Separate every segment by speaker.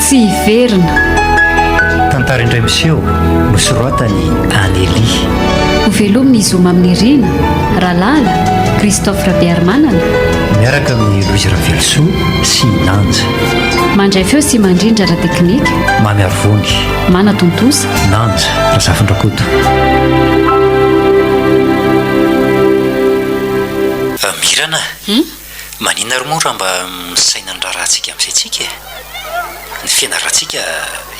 Speaker 1: Tsy hiverina.
Speaker 2: Tantara indray miseho nosoratany Anelie. Ho
Speaker 1: velomina i Zoma amin'ny Rina, Ralala, Christophe Rabearimanana. Miaraka
Speaker 2: amin'ny Louise Ravelosoa sy Nanja. Mandray feo
Speaker 1: sy mandrindra ara-teknika. Mamy Arivony.
Speaker 2: Manatontosa.
Speaker 1: Nanja
Speaker 2: Razafindrakoto. Mirana a! Manina ary moa raha mba misaina ny raharahantsika amin'izay tsika e! Ny fianaratsika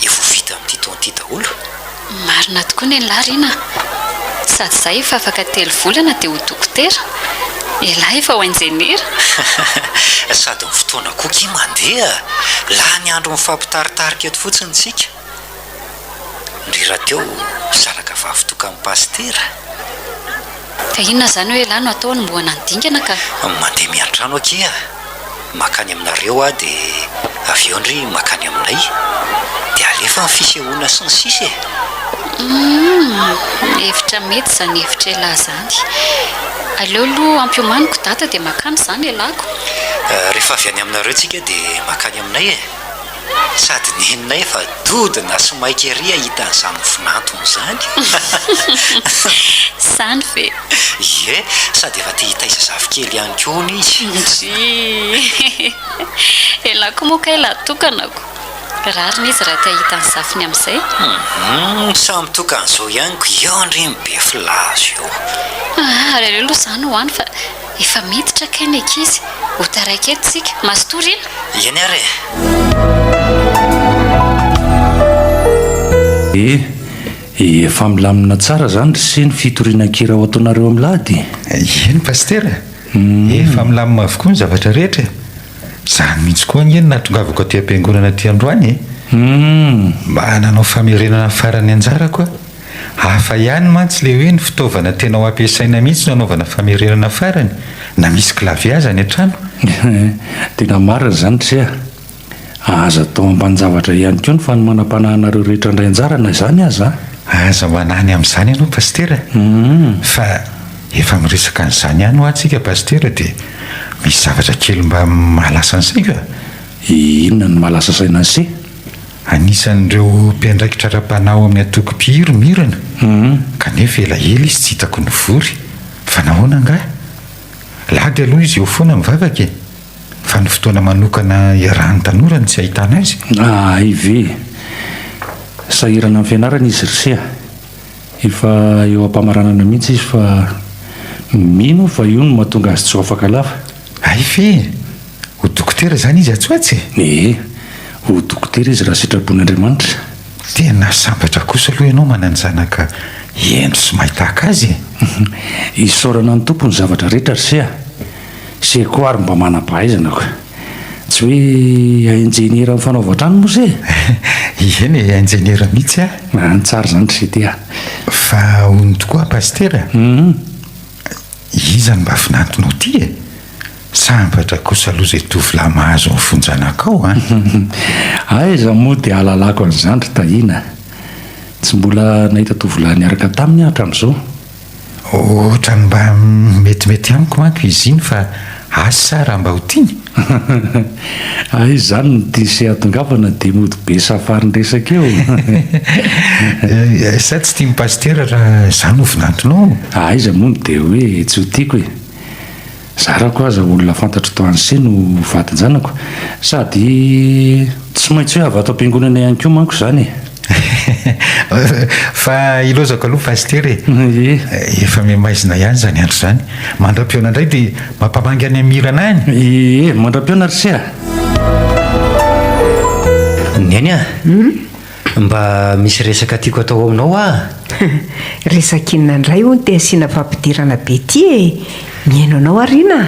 Speaker 2: efa ho vita amin'ity taona ity daholo. Marina
Speaker 1: tokoa ny an'lah Rina a! Sady za efa afaka telo volana dia ho dokotera, elah efa ho injeniera.
Speaker 2: Sady ny fotoana koa ki mandeha, lany andro mifampitaritarika eto fotsiny tsika. Ndry rahateo zanaka vavy tokan'ny pasitera
Speaker 1: e! Ka inona izany hoe elah no atao anombohana ny dingana ka? Mandeha miantrano
Speaker 2: akia ah! Makany aminareo ah de avy eo ndry makany aminay de alefa ny fisehoana sy ny sisa e! Humm!
Speaker 1: Hevitra mety izany hevitr'elah izany. Aleo aloha ampiomaniko dada dia makany izany elahko. Rehefa avy
Speaker 2: any aminareo tsika dia makany aminay e! Sady nenay fa dody na sy maika ery ahita an'izany mivinantona izany. Izany
Speaker 1: ve? Ie,
Speaker 2: sady efa te hitaiza zafikely ihany koa hono izy. Ndryy.
Speaker 1: Elah koa moa kay lah tokanako. Rariny izy raha te hahita ny zafiny amin'izay. Hum,
Speaker 2: samy tokan'izao ihany ko eo ndry ny be filaza eo. Ary aleo
Speaker 1: aloha izany ho any fa. Efa miditra kay ny ankizy. Ho taraiky eto tsika. Mazotoa re a! Eny ary
Speaker 3: e! Eh! Efa milamina tsara zany ry se ny fitorianan-kira ho ataonareo Amlady? Eny Pasitera
Speaker 4: a! Efa milamina avokoa ny zavatra rehetra e! Zany mihitsy koa ange no nahatongavako aty am-piangonana aty androany e! Mba nanao famerenana farany anjarako aho. Hafa ihany mantsy le hoe ny fitaovana tena ho ampiasaina mihitsy no anaovana famerenana farany na misy clavier aza any an-trano e!
Speaker 3: Tena marina izany ry se a! Aza atao ambanin-javatra ihany koa ny fanomanampanahanareo rehetra handray anjara na izany aza a! Aza manahy
Speaker 4: ny amin'izany ianao Pasitera fa efa miresaka an'izany ihany hoa tsika Pasitera dia misy zavatra kely mba mahalasa ny saiko a! Inona
Speaker 3: no mahalasa saina an'i se? Anisan'ireo
Speaker 4: mpiandraikitra ara-panahy ao amin'ny antoko Mpihiro i Mirona, kanefa ela ela izy tsy hitako nivory. Fa nahoana angaha? Lady aloha izy eo foana mivavaka e! Fa ny fotoana manokana hiarahan'ny tanora no tsy ahitana azy. Ahay ve?
Speaker 3: Sahirana amin'ny fianarana izy ry se a! Efa eo am-pamaranana mihitsy izy fa mino aho fa io no mahatonga azy tsy ho afaka lava. Hay ve e!
Speaker 4: Ho dokotera izany izy atsy ho atsy e! Ee,
Speaker 3: ho dokotera izy raha sitrapon'Andriamanitra. Tena
Speaker 4: sambatra kosa aloha ianao manana zanaka hendry sy mahay tahaka azy e! Isaorana
Speaker 3: ny Tompo ny zavatra rehetra ry se a! Se koa ary mba manam-pahaizana ko! Tsy hoe injeniera amin'ny fanaovan-trano moa se e! Eny
Speaker 4: e, injeniera mihitsy a! Any tsara izany ry se
Speaker 3: ity a! Fa
Speaker 4: hono tokoa pasitera? Humm. Iza no mba vinantonao ty e? Sambatra kosa aloha izay tovolahy mahazo ny vonjanakao a!
Speaker 3: Aiza moa dia hahalalako an'izany ry Tahiana? Tsy mbola nahita tovolahy niaraka taminy aho hatramin'izao.
Speaker 4: Ohatran'ny mba metimety amiko manko izy iny fa asa raha mba ho tiany? Hay izany
Speaker 3: no diso iadongavana dia mody be safarin-dresaka eo. Eh,
Speaker 4: sa tsy tian'i Pasitera raha izaho no vinantonao? Ah, aiza moa no dia
Speaker 3: hoe tsy ho tiako e! Zarako aza olona fantatro tao Anse no vadin-janako, sady tsy maintsy hoe avy ato am-piangonana ihany koa manko izany e!
Speaker 4: Fa ilaozako aloha Pasitera e! Efa miha-maizina ihany izany andro izany. Mandram-pihaona indray dia mampamangy any Amirana any! Ee, mandram-pihaona ry se a!
Speaker 2: Neny a! Mba misy resaka tiako atao aminao aho a!
Speaker 5: Resaka inona indray hono te asiana fampidirana be ity e! Mihaino anao Arina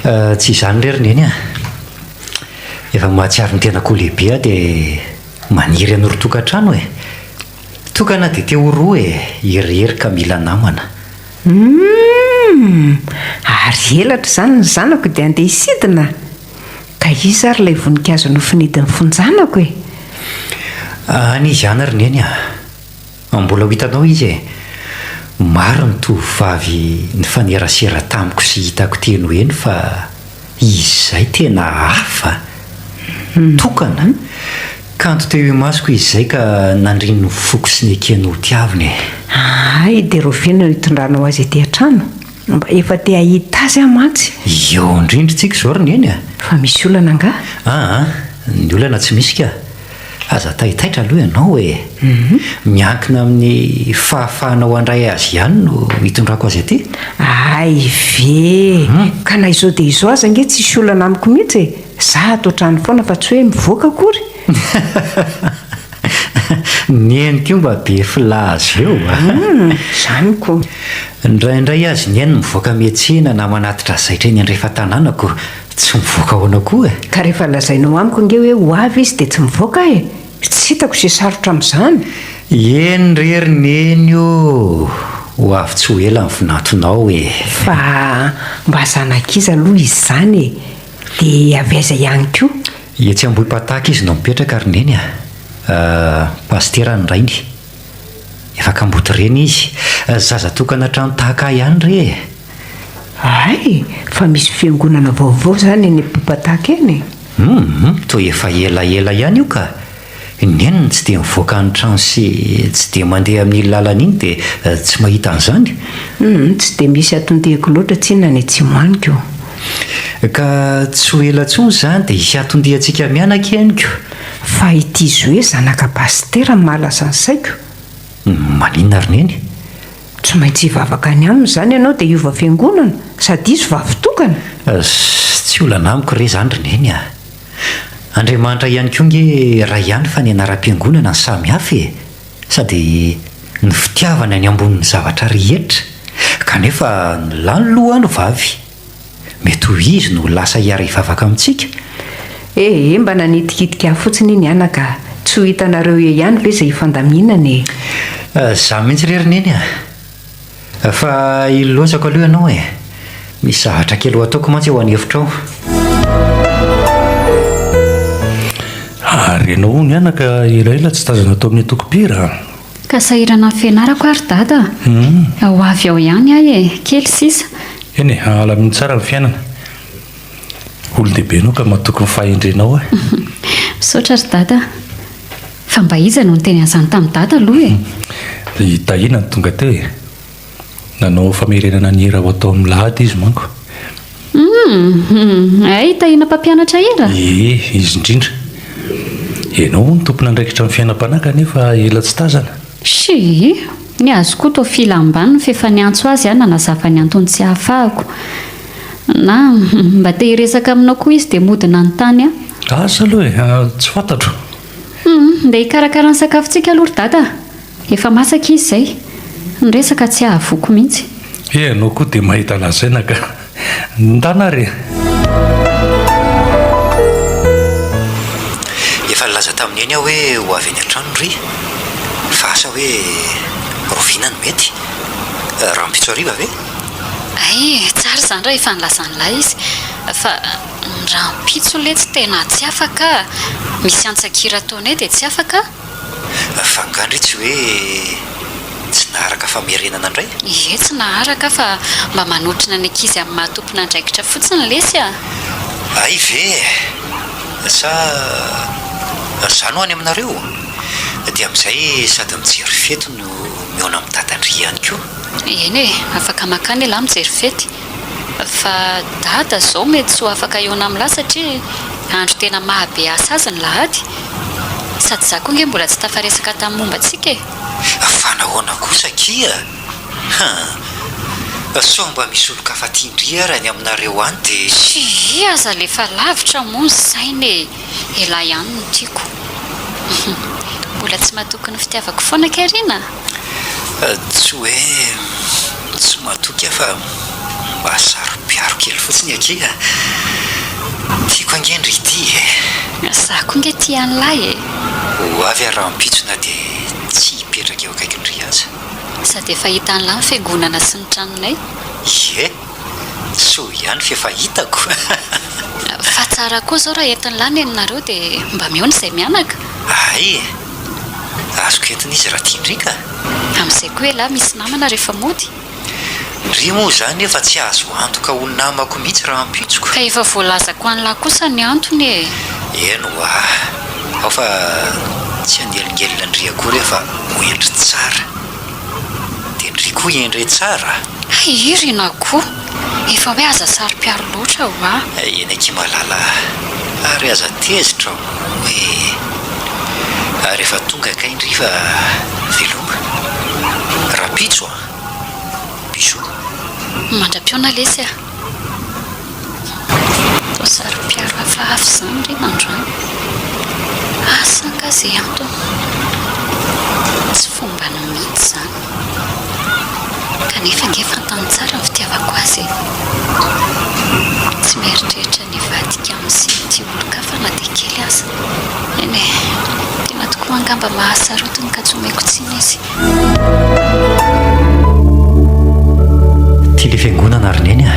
Speaker 5: a! Tsy izany
Speaker 2: re ry Neny a! Efa mahatsiaro ny tenako ho lehibe aho dia. Maniry hanoro tokantrano e! Tokana dia te ho roa e! Irery ka mila namana. Humm!
Speaker 5: Ary elatra izany ny zanako dia handeha hisidina? Ka iza ary ilay voninkazo nofinidin'ny fonjanako e?
Speaker 2: Any izy any ry Neny a! An mbola ho hitanao izy e! Maro ny tovovavy nifanerasera tamiko sy hitako teny ho eny fa izy izay tena hafa, tokana, kanto teo imasoko izy izay ka nandriny ny foko sy nekeny ho tiavina e! Hay
Speaker 5: dia rovina no hitondranao azy ety an-trano? Mba efa te hahita azy aho mantsy! Eo indrindra
Speaker 2: tsika izao ry Neny a! Fa misy olana
Speaker 5: angaha? Aa,
Speaker 2: ny olana tsy misy ka! Aza taitaitra aloha ianao e! Miankina amin'ny fahafahanao handray azy ihany no hitondrako azy aty. Hay
Speaker 5: ve! Ka na izao dia izao aza ange tsy hisy olana amiko mihitsy e! Izaho ato an-trano foana fa tsy hoe mivoaka akory!
Speaker 2: Neny koa mba be filaza eo a! Izany
Speaker 5: koa! Indraindray
Speaker 2: azy neny mivoaka miantsena na manatitra zaitra eny andrefan-tanànako Tsy mivoaka ahoana koa e? Ka rehefa lazainao
Speaker 5: amiko ange hoe ho avy izy dia tsy mivoaka aho e! Tsy hitako izay sarotra amin'izany. Eny
Speaker 2: re ry neny o! Ho avy tsy ho ela ny vinatonao e! Fa
Speaker 5: mba zanak'iza aloha izy izany e? Dia avy aiza ihany koa? Etsy Ambohipataka
Speaker 2: izy no mipetraka ry neny a! Pasitera ny rainy. Efa kamboty reny izy. Zaza tokana hatrany tahaka ahy ihany re e! Hay!
Speaker 5: Fa misy fiangonana vaovao izany eny Ampiboapak eny e! Humm! Toa
Speaker 2: efa ela ela ihany io ka! Neny ny tsy dia mivoaka ny trano sy tsy dia mandeha amin'iny lalana iny dia tsy mahita an'izany? Humm! Tsy dia
Speaker 5: misy aton-diako loatra tsinona any atsimo any ko! Ka
Speaker 2: tsy ho ela intsony izany dia hisy aton-diantsika mianaka henoko! Fa ity
Speaker 5: zoe zanaka pasitera no mahalaza ny saiko. Malina
Speaker 2: ry neny. Tsy maintsy
Speaker 5: hivavaka any aminy izany ianao dia hiova fiangonana, sady hisy vavy tokana. Tsy
Speaker 2: olana amiko re izany ry neny a! Andriamanitra ihany koa nge iray ihany fa ny anaram-piangonana no samy hafa e! Sady ny fitiavana ny ambonin'ny zavatra rehetra, kanefa ny lahy no loha no vavy. Mety ho izy no ho lasa hiara-hivavaka amintsika? Ehe,
Speaker 5: mba nanitikitika ahy fotsiny iny anaka a! Tsy ho hitanareo eo ihany ve izay hifandaminana e? Izaho
Speaker 2: mihitsy re ry Neny a! Fa hilozako aloha ianao e! Misy zavatra kely ho ataoko mantsy ao an'efitra ao.
Speaker 3: Ary ianao hono anaka elaela tsy tazana tao amin'ny antoko-mpihira? Ka sahirana
Speaker 1: ny fianarako ary Dada a! Ho avy ao ihany aho e! Kely sisa. Eny e, hahala
Speaker 3: mihitsy ara ny fiainana. Olon-dehibe ianao ka matoky ny fahendrenao e! Misaotra
Speaker 1: ry Dada a! Fa mba iza no niteny an'izany tamin'i Dada aloha e? I Tahina
Speaker 3: no tonga teo e! Nanao famerenana ny hira ho atao amin'ny lahady izy manko. Hum,
Speaker 1: hay tahiana mpampianatra hira? Ie, izy indrindra.
Speaker 3: Ianao hono tompon'andraikitra ny fiainam-panahy kanefa ela tsy tazana. Shii,
Speaker 1: ny azy koa toa filam-baniny f'efa niantso azy aho nanazava ny antony tsy ahafahako. Na, hum, mba te hiresaka aminao koa izy dia mody nanontany aho. Asa aloha e,
Speaker 3: tsy fantatro. Hum, ndeha
Speaker 1: hikarakara ny sakafontsika aloha ry dada. Efa masaka izy zay. Ny resaka tsy ahavoky mihitsy. Eh ianao koa dia
Speaker 3: mahita lazaina ka. Ndana re.
Speaker 2: Efa nilaza tamin'i Neny aho hoe ho avy any an-trano ry. Fa asa hoe roviana no mety? Rahampitso hariva ve? Hay,
Speaker 1: tsara izany raha efa nilaza an'ilay izy. Fa ny rahampitso letsy tena tsy afaka. Misy antsan-kira ataonay dia tsy afaka. Fa
Speaker 2: nga ndry tsy hoe tsy naharaka famerenana ndray? Ie tsy naharaka
Speaker 1: fa mba manotrona ny ankizy amin'ny maha tompon'andraikitra fotsiny lesy a! Hay
Speaker 2: ve e! Sa zany ho'a ny aminareo? Dia amin'izay sady mijery fety no mihaona amin'i Dada ndry ihany koa. Eny e!
Speaker 1: Afaka mankany elah mijery fety. Fa dada zao mety tsy ho afaka hihaona am la satria andro tena maha be asa azy ny lahady? Sady za koa nge mbola tsy tafaresaka tam momba antsika e! Fa
Speaker 2: nahoana kosa akia? Hum. Sao mba misy olon-kafa tia ndry ara ny aminareo any dia. Tsia aza le fa
Speaker 1: lavitra moa ny saina e! Elah ihany no tiako. Mbola tsy matoky ny fitiavako foana kay ry na?
Speaker 2: Tsy hoe tsy matoky aho fa mba saro-piaro kely fotsiny akia a! Tiako ange ny Ridhi e! Za
Speaker 1: koa nge tia an'lah e! Ho avy
Speaker 2: aho rahampitso na dia tsy hipetraka eo akaikin'i Riaza. Sady efa
Speaker 1: hitan'lah ny fiangonana sy ny tranonay. Ie!
Speaker 2: Soa ihany fa efa hitako.
Speaker 1: Fa tsara koa zao raha entin'i la neny nareo de mba mihaona izay mianaka. Hay e! Azoko
Speaker 2: entina
Speaker 1: izy raha tian-dry
Speaker 2: ka. Amin'izay
Speaker 1: koa
Speaker 2: elah misy
Speaker 1: namana
Speaker 2: rehefa
Speaker 1: mody. Ndry
Speaker 2: moa izany efa tsy azo antoka ho namako mihitsy rahampitsoko. Ka efa voalazako
Speaker 1: an'lah kosa ny antony e! Eny ho'a!
Speaker 2: Ao fa tsy hanelingelina an-dry akory aho fa ho endry tsara. Dia ndry koa endre tsara! Hay i Rinah
Speaker 1: koa efa hoe aza saro-piaro loatra ho'a. Eny akia malala
Speaker 2: a! Ary aza tezitra o e! Ary efa tonga kay ndry fa veloma! Rahampitso a! Bisous.
Speaker 1: Mandra-pihaona lesy a! Toa saropiaro hafahafa izany ry Nandro an! Asa angaha izay antony? Tsy fombanao mihitsy izany. Kanefa ange fantany tsara ny fitiavako azy e! Tsy mieritreritra ny hivadika amin'ity olon-kafa na dia kely aza. Eny e, tiana tokoa angamba mahasarotiny ka tsy omeko tsiny izy.
Speaker 2: Ty le fiangonana ry neny a!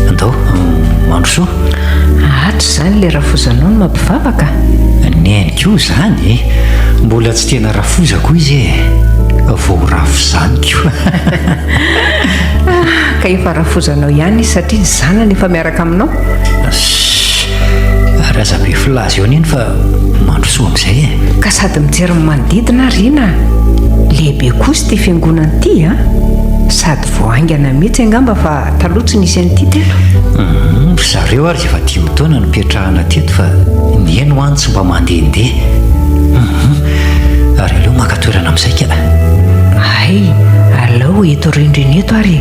Speaker 2: Andao, mandrosoa!
Speaker 5: Atra izany ilay rafozanao no mampivavaka? Neny
Speaker 2: koa izany e! Mbola tsy tena rafoza koa izy e! Vao ho rafo izany koa!
Speaker 5: Ka efa rafozanao ihany izy satria ny zanany efa miaraka aminao?
Speaker 2: Razabe filaza eo neny fa mandrosoa amin'izay e. Ka sady mijery
Speaker 5: ny manodidina ary ina a. Lehibe kosa ity fiangonana ity a. Sady vao haingana mihitsy angamba fa taloha tsy nisy an'ity teto. Hum, ry zareo
Speaker 2: ary efa dimy taona no nipetrahana teto fa ny eny ho any tsy mba mandehandeha. Hum, ary aleo maka toerana amin'ny saika. Hay,
Speaker 5: aleo eto rindrina eto ary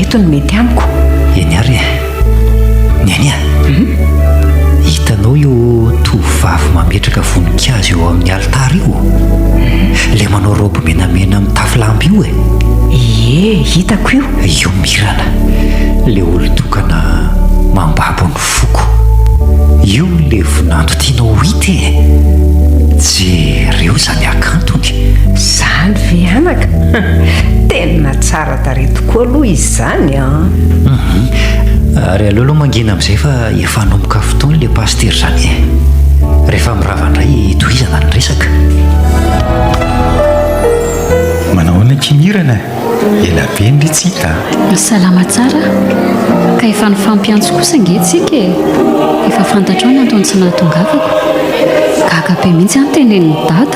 Speaker 5: eto no mety amiko. Eny ary e.
Speaker 2: Niania, hitanao io tovovavy mametraka voninkazo eo amin'ny alitara io? Ilay manao robe menamena mitafy lamba io e. Ie,
Speaker 5: hitako io. Io
Speaker 2: Mirana, ilay olon-tokana mambabo ny foko. Io ilay vinanto tianao ho hita e. Jereo izany hakantony. Izany
Speaker 5: ve anaka? Tena tsara. Tsara-tarehy tokoa aloha izy izany an!
Speaker 2: Ary aleo aloha mangina amin'izay fa efa hanomboka fotoana ilay pasitera izany e! Rehefa mirava indray tohizana ny resaka.
Speaker 4: Manao ahoana akia Mirana e? Ela be ndry tsy hita an! Salama tsara.
Speaker 1: Ka efa nifampiantso kosa ange isika e! Efa fantatrao ny antony tsy nahatongavako. Gaga be mihitsy aho notenenin'i Dada.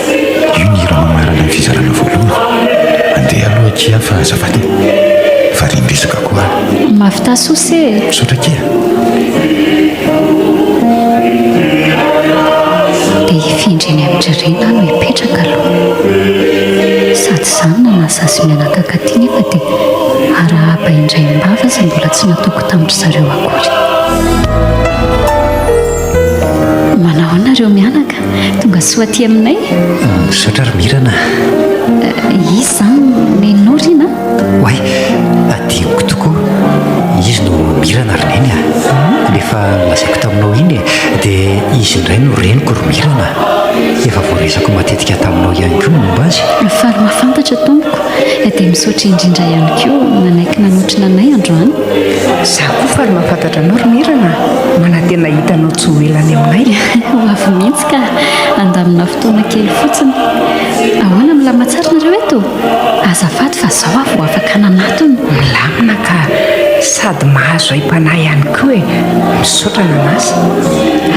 Speaker 4: Io ny hira mamarana ny fizarana voalohany. Andeha aloha akia fa azafady e! Variam-betsaka koa aho. Mafy tasosy
Speaker 1: e! Misaotra akia! Dia hifindra eny amin'ny ririnina aho no hipetraka aloha. Sady izany na nahasahy sy mianakaka aty nefa dia arahaba indray am-bava izay mbola tsy nataoko tamin-dry zareo akory. Manao ahoana ireo mianaka? Tonga soa aty aminay. Misaotra ry
Speaker 2: Mirana.
Speaker 1: Iza Neny Norina? Oay,
Speaker 2: adinoko tokoa. Izy no Mirana ry Neny a. Efa nolazaiko taminao iny e. Dia izy indray no reniko ry Mirana. Efa voalazako matetika taminao ihany koa ny momba azy. Faly mahafantatra
Speaker 1: tompoko. Dia misaotra indrindra ihany koa nanaiky nanotrona anay androany. Izaho koa
Speaker 5: faly mahafantatra anao ry Mirana. Manantena hahita anao tsy ho ela any aminay. Ho avy mihitsy
Speaker 1: ka! Handamina fotoana kely fotsiny. Ahoana, milamina tsara nareo eto? Azafady fa zao aho vao afaka nanatona. Milamina ka,
Speaker 5: sady mahazo aim-panahy ihany koa e! Misaotra nanasa.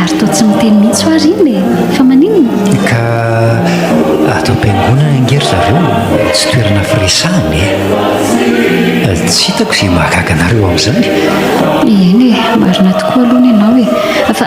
Speaker 5: Ary
Speaker 1: toa tsy miteny mihitsy hoa ry
Speaker 2: iny e!
Speaker 1: Fa maninona? Ka ato am-piangonana
Speaker 2: ange ry zareo no tsy toerana firesahana e! Tsy hitako izay mahagaga anareo amin'izany. Eny e,
Speaker 1: marina tokoa aloha ny anao e! Fa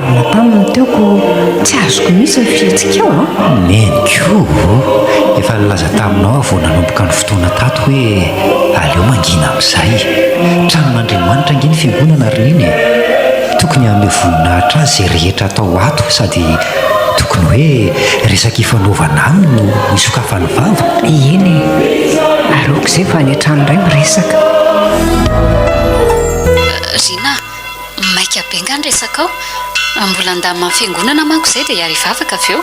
Speaker 5: Napam ny teoko tsy azoko mihitsy ny fihetsikao an! Neniko
Speaker 2: ô! Efa nilaza taminao aho vao nanomboka ny fotoana tato hoe aleo mangina amin'izay. Tranon'Andriamanitra ange ny fiangonana ry Neny e! Tokony hanome voninahitra azy izay rehetra atao ato sady tokony hoe resaka ifanaovana aminy no isokafany vava. Eny e!
Speaker 5: Ary aoka izay fa any an-trano indray miresaka.
Speaker 1: Ry Neny a! maika be nga ny resakao? Mbola handamina ny fiangonana manko izay dia hiary hivavaka avy eo.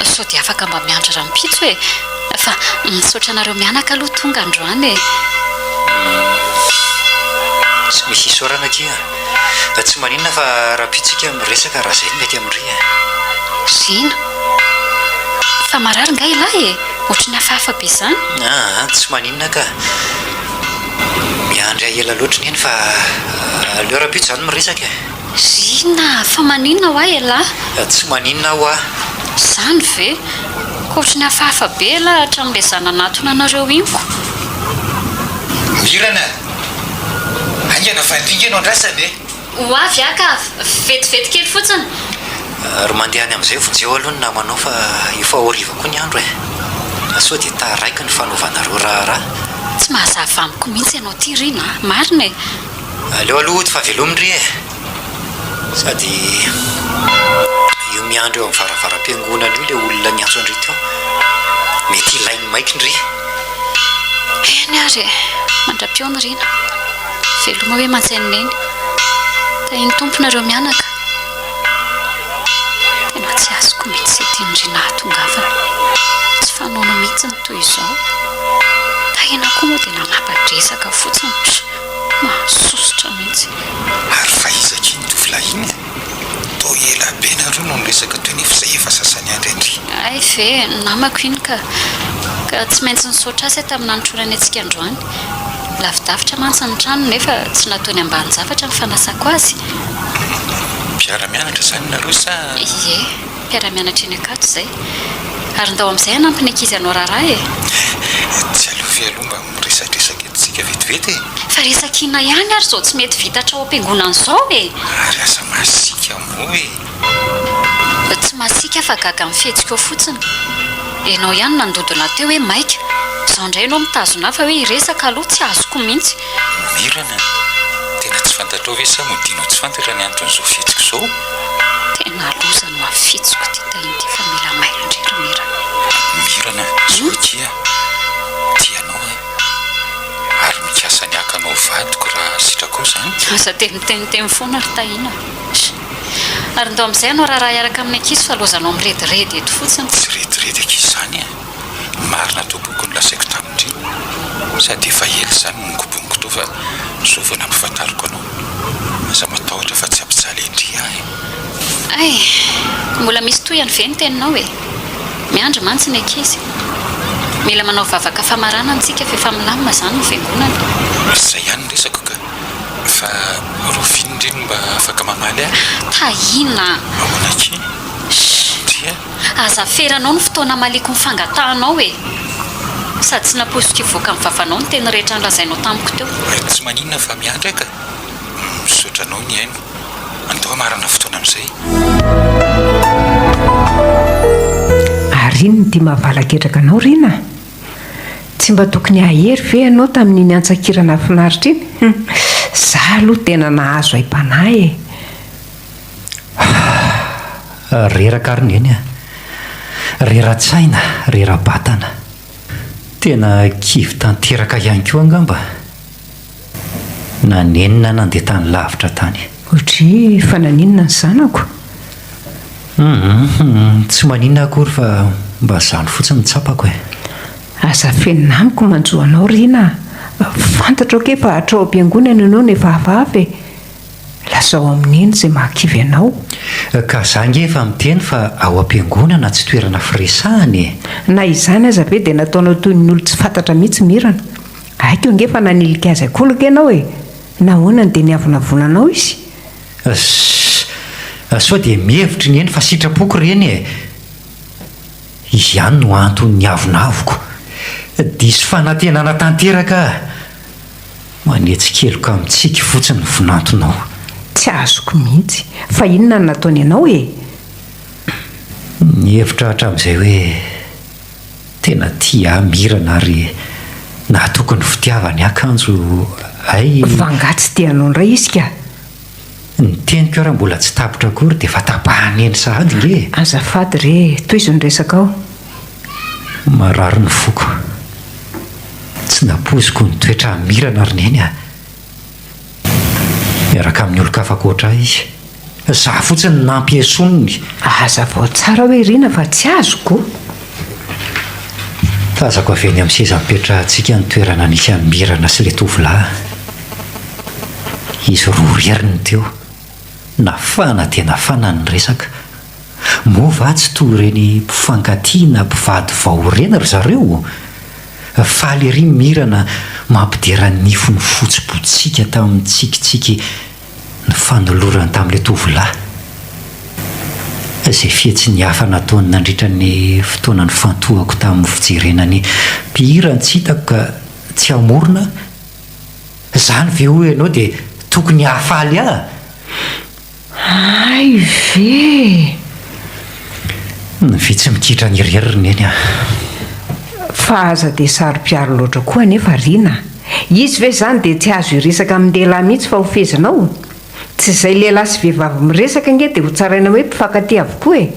Speaker 1: Sao dia afaka mba miandry rahampitso e! Fa misaotra anareo mianaka aloha tonga androany e!
Speaker 2: Tsy misy isaorana akia a! Tsy maninona fa rahampitso ika miresaka raha izay no mety amin'ry e! Zina,
Speaker 1: Fa marary nga ilay e? Ohatry ny hafahafa be izany. Aa, tsy maninona
Speaker 2: ka! Miandry ahy ela loatra neny fa aleo rahampitso izany miresaka e! Ry inona?
Speaker 1: Fa maninona hoa elah? Tsy maninona
Speaker 2: hoa. Izany ve?
Speaker 1: Koa ohatry ny hafahafa be elah hatramin'ilay izaho nanatona anareo iny ko!
Speaker 4: Mirana a! Haingana fa ndringa no andrasana e! Ho avy aho ka,
Speaker 1: vetivety kely fotsiny. Ry
Speaker 2: mandeha any amin'izay vao jeo aloha ny namanao fa efa ho hariva koa ny andro e! Fa sao dia taraiky ny fanaovanareo raharaha. Tsy mahazava
Speaker 1: amiko mihitsy ianao ity ry na. Marina e! Aleo aloha hody
Speaker 2: fa veloma ry e! Sady io miandry eo amin'ny varavaram-piangonana io ilay olona niantso an-dry teo, mety hilainy maika ndry. Eny
Speaker 1: ary e! Mandra-peo ny rina. Veloma hoe mantsai-ny neny. Tahian'ny Tompo nareo mianaka. Tena tsy azoko mitsy zay tian'i Ry nahatongavana. Tsy fanaony mitsy ny toy izao. Tahina koa moa dia nanapa-dresaka fotsiny. Mahasositra mitsy. Ary fa
Speaker 4: iza akia iny tovolahy iny e? Toa ela be nareo no niresaka teo nefa izay efa sasany andry andry. Hay ve,
Speaker 1: namako iny ka! Ka tsy maintsy nisaotra azy aho tamin'ny nanotrorany antsika androany. Lavidavitra mantsy ny tranony nefa tsy nataony ambanin-javatra ny fanasako azy. Mpiara-mianatra
Speaker 4: izany nareo sa? Ie,
Speaker 1: mpiara-mianatra eny Ankatso izay. Ary ndao amin'izay hanampy ny ankizy hanao raharaha e! Tsy aloha
Speaker 4: ve aloha mba Miresadresaka eto tsika vetivety e! Fa resak'ina ihany
Speaker 1: ary zao tsy mety vita hatrao am-piangonana zao e! Ary aza
Speaker 4: masiaka moa e! Tsy masiaka
Speaker 1: fa gaga amin'ny fihetsikao fotsiny. Enao ihany nandodona teo hoe maika. Zao indray enao mitazona ahy fa hoe hiresaka aloha tsy azoko mihitsy. Mirana an!
Speaker 4: Tena tsy fantatrao ve sa modianao tsy fantatra ny anton'izao fihetsiko izao? Tena
Speaker 1: loza no hafitsiko ity tahiny ity fa mila mailo indray ry Mirana. Mirana
Speaker 4: an! Zao akia. Tia anao aho ary mikasa ny haka anao ho vadiko raha sitrakao izany. Aza dia miteniteny
Speaker 1: foana ry Tahiana a! Ary ndao amin'izay ianao raharaha hiaraka amin'ny ankizy fa loazanao mirediredy eto fotsiny. Tsy rediredy ankizy
Speaker 4: izany a! Ny marina tompoko no lazaiko tamin'ity. Sady efa ela izany no nikobohiko teo fa izao vao nampahafantariko anao. Aza matahotra fa tsy hampijaly an-dry ahy e! Ay!
Speaker 1: Mbola misy tohiny ve ny teninao e? Miandry mantsy ny ankizy. Mila manao vavaka famarana amintsika fa efa milamina izany ny fiangonana. Izay ihany ny resako
Speaker 4: ka. Fa rovino re no mba afaka mamaly ahy. Tahiana a!
Speaker 1: Ahoana akia?
Speaker 4: Shh! Dia? Aza aferanao
Speaker 1: ny fotoana amaliako ny fangatahanao e! Sady tsy nampoiziko hivoaka amin'ny vavanao ny teny rehetra nolazainao tamiko teo. Tsy maninona fa
Speaker 4: miandry ahy ka. Misaotra anao Niaino. Andao hamarana fotoana amin'izay.
Speaker 5: Ary inona ity mahavalaky hetraka anao Rina a? Tsy mba tokony hahery ve ianao tamin'iny antsan-kira nahafinaritra iny? Hum, za aloha tena nahazo aim-panahy e! Hah,
Speaker 2: reraka ary neny a! Rera-tsaina, rera-batana. Tena kivy tanteraka ihany koa angamba. Na nenina nandeha tany lavitra tany. Hoatry fa
Speaker 5: naninona ny zanako?
Speaker 2: Hum-hum-hum, tsy maninona akory fa mba zany fotsiny no tsapako e. Aza
Speaker 5: afenina amiko manjo anao Rina a! Fantatro ange fa hatrao am-piangonana ianao no efa avavy e! Lazao amin'i Neny izay mahakivy anao. Ka za
Speaker 2: ange efa miteny fa ao am-piangonana tsy toerana firesahana e! Na izany
Speaker 5: aza ve dia nataonao toy ny olon-tsy fantatra mihitsy Mirana? Aiko ange fa nanilika azy an-kolaka ianao e! Nahoana no dia niavonavona anao izy? Ss,
Speaker 2: sao dia mihevitra i Neny fa sitrapoko ireny e! Izy ihany no antony niavonavoko. Diso fanantenana tanteraka aho. Manetsy keloka mitsiky fotsiny ny vinantonao. Tsy azoko
Speaker 5: mihitsy. Fa inona no nataony anao e?
Speaker 2: Nihevitra hatramin'izay hoe. Tena tia ahy Mirana ary nahatoky ny fitiavany akanjo ay.
Speaker 5: V'angaha tsy te hanao indray izy ka? Ny
Speaker 2: teniko ary mbola tsy tapitra akory dia efa tapahany eny sahady nge e! Azafady re,
Speaker 5: tohizo ny resakao.
Speaker 2: Marary ny foko. Tsy nampoiziko ho nitoetra amin'i Mirana ry Neny a! miaraka amin'ny olon-kafa ankoatra ahy izy. Izaho fotsiny no nampiesoiny ny. Hazavao
Speaker 5: tsara hoe irina fa tsy azoko.
Speaker 2: Tazako avy eny amin'ny seza nipetrahantsika ny toerana nisy an'i Mirana sy ilay tovolahy. Izy roa irery no teo. Nafana dia nafana ny resaka. Moa va tsy toa ireny mpifankatia na mpivady vao ireny ry zareo? Faly ery Mirana mampidera ny nifiny fotsy botsiaka tamin'ny tsikitsiky nifanolorany tamin'ilay tovolahy. Izay fihetsiny hafa nataony nandritra ny fotoana nifantohako tamin'ny fijerena ny mpihira no tsy hitako ka tsy hamorona aho. Izany ve hoy ianao dia tokony hahafaly ahy? Hay
Speaker 5: ve e!
Speaker 2: Ny vitsy mikitrany irery ry neny ah!
Speaker 5: Fa aza dia saro-piaro loatra koa anefa Rina a! Izy ve izany dia tsy azo hiresaka amin'ny lehilahy mihitsy fa ho fehezina ao? Tsy izay lehilahy sy vehivavy miresaka ange dia ho tsaraina hoe mpifankatia avokoa e!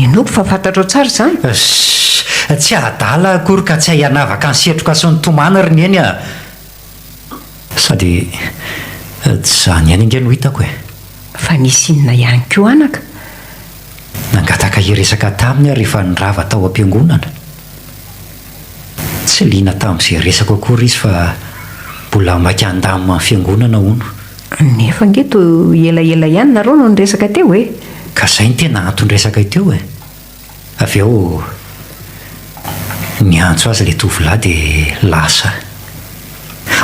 Speaker 5: Inoako fa fantatrao tsara izany? Ssss! Tsy
Speaker 2: adala aho akory ka tsy hay hanavaka ny setroka sy ny tomany ry neny ah! Sady tsy izany ihany ange no hitako e! Fa nisy
Speaker 5: inona ihany koa anaka?
Speaker 2: Nangataka hiresaka taminy aho rehefa nirava tao am-piangonana. Tsy liana tamin'izay resako akory izy fa mbola maika handamina ny fiangonana hono. Nefa ange
Speaker 5: toa elaela ihany nareo no niresaka teo e! Ka izay no tena
Speaker 2: anton-dresaka teo e! Avy eo, niantso azy ilay tovolahy dia lasa.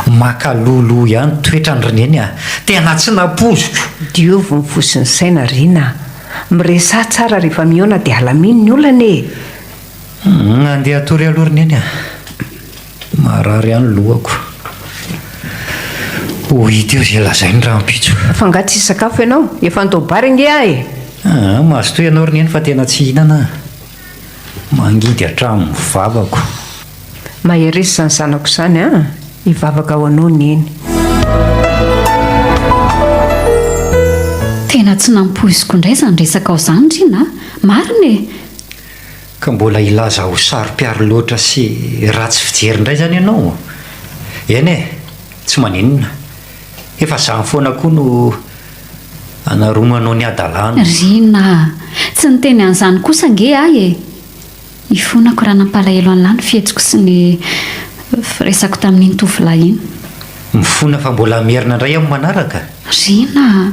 Speaker 2: Maka loloha ihany toetran'i Rineny a! Tena tsy nampoiziko! Diovy ny fo
Speaker 5: sy ny saina ry Rina a! Miresaha tsara rehefa mihaona dia alamino ny olana e!
Speaker 2: Andeha hatory aloha Rineny a! Maharary ihany lohako. Ho hita eo izay lazainy rahampitso. Fa angaha tsy hisakafo
Speaker 5: ianao? Efa andao bary ange aho e! Aa, mazotoa
Speaker 2: ianao ry neny fa tena tsy hihinana aho. Mangidy hatramin'ny vavako.
Speaker 5: Mahereza izany zanako izany an! Hivavaka ho anao neny.
Speaker 1: Tena tsy nampoiziko indray izany resakao izany Rina a! Marina e!
Speaker 2: Ka mbola hilaza ho saro-piaro loatra sy ratsy fijery indray izany ianao? Eny e, tsy maninona. Efa izany foana koa no anaromanao ny hadalana. Rina
Speaker 1: a! Tsy niteny an'izany kosa ange aho e! Ifonako raha nampalahelo an'lah ny fihetsiko sy ny firesako tamin'iny tovolahy iny. Mifona fa
Speaker 2: mbola hamerina indray amin'ny manaraka? Rina
Speaker 1: a!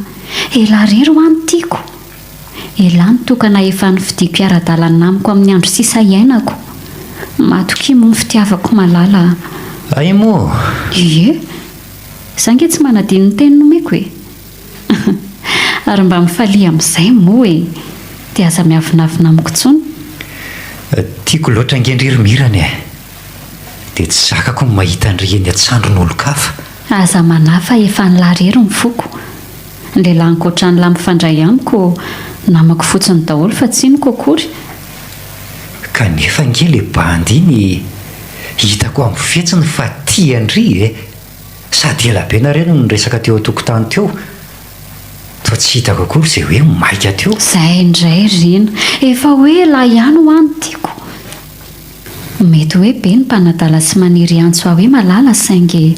Speaker 1: Elah irery ho'a no tiako. Elah nitokana efa nifidiako hiara-dalana amiko amin'ny andro sisa iainako. Matokia moa ny fitiavako malala a. Hay moa!
Speaker 2: Ie!
Speaker 1: Za nge tsy manadino ny teny nomeko e! Ary mba mifalia amin'izay moa e! Dia aza miavonavona amiko intsony.
Speaker 2: Tiako loatra ange ndry ry Mirana e! Dia tsy zakako ny mahita an'ry eny an-tsandrin'olon-kafa. Aza manahy
Speaker 1: fa efa nilà irery ny foko. Lehilahy ankoatrany lahy mifandray amiko namako fotsiny daholo fa tsiniko akory.
Speaker 2: Kanefa ange le bandy iny e! Hitako amin'ny fihetsiny fa tia an-dry e! Sady ela be nareo no niresaka teo an-tokotany teo fa tsy hitako akory izay hoe maika teo. Zay indray ry
Speaker 1: Rina. Efa hoe lahy ihany ho'a no tiako. Mety hoe be ny mpanadala sy maniry antso ahy hoe malala saingy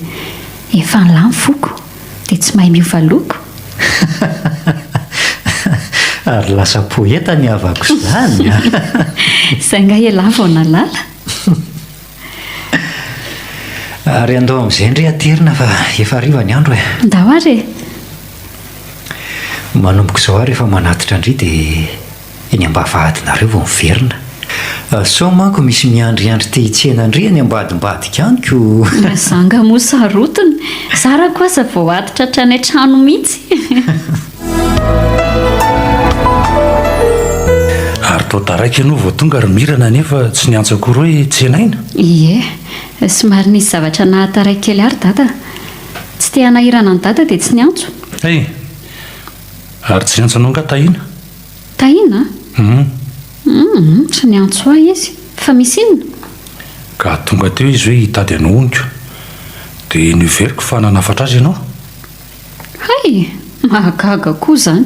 Speaker 1: efa an'la ny foko dia tsy mahay miova loko?
Speaker 2: Ary lasa poeta ny havako
Speaker 1: izany
Speaker 2: an! Izay ngah
Speaker 1: ialahy vao
Speaker 2: nalala? Ary andao amin'izay ndry aterina fa efa hariva ny andro e! Ndao ary e! Manomboka izao ary efa manatitra ndry dia. eny ambavahadinareo vao miverina. Sao manko misy miandriandry te hitsena an-dry any ambadimbadika any ko! Raha za nga moa
Speaker 1: sarotiny, za ra ko aza vao atitra hatrany an-trano mihitsy!
Speaker 3: Ary tao taraiky ianao vao tonga ry Mirana nefa tsy niantso akory hoe tsenaina? Ie,
Speaker 1: somary nisy zavatra nahataraiky kely ahy ry Dada. Tsy te hanahirana an'i Dada dia tsy niantso. Hey!
Speaker 3: Ary tsy niantso anao nga Tahiana? Tahiana?
Speaker 1: Humm! Humm! Tsy niantso ahy izy. Fa misy inona? Ka
Speaker 3: tonga teo izy hoe hitady anao honiko. Dia noheveriko fa nanafatra azy ianao. Hay!
Speaker 1: Mahagaga koa izany.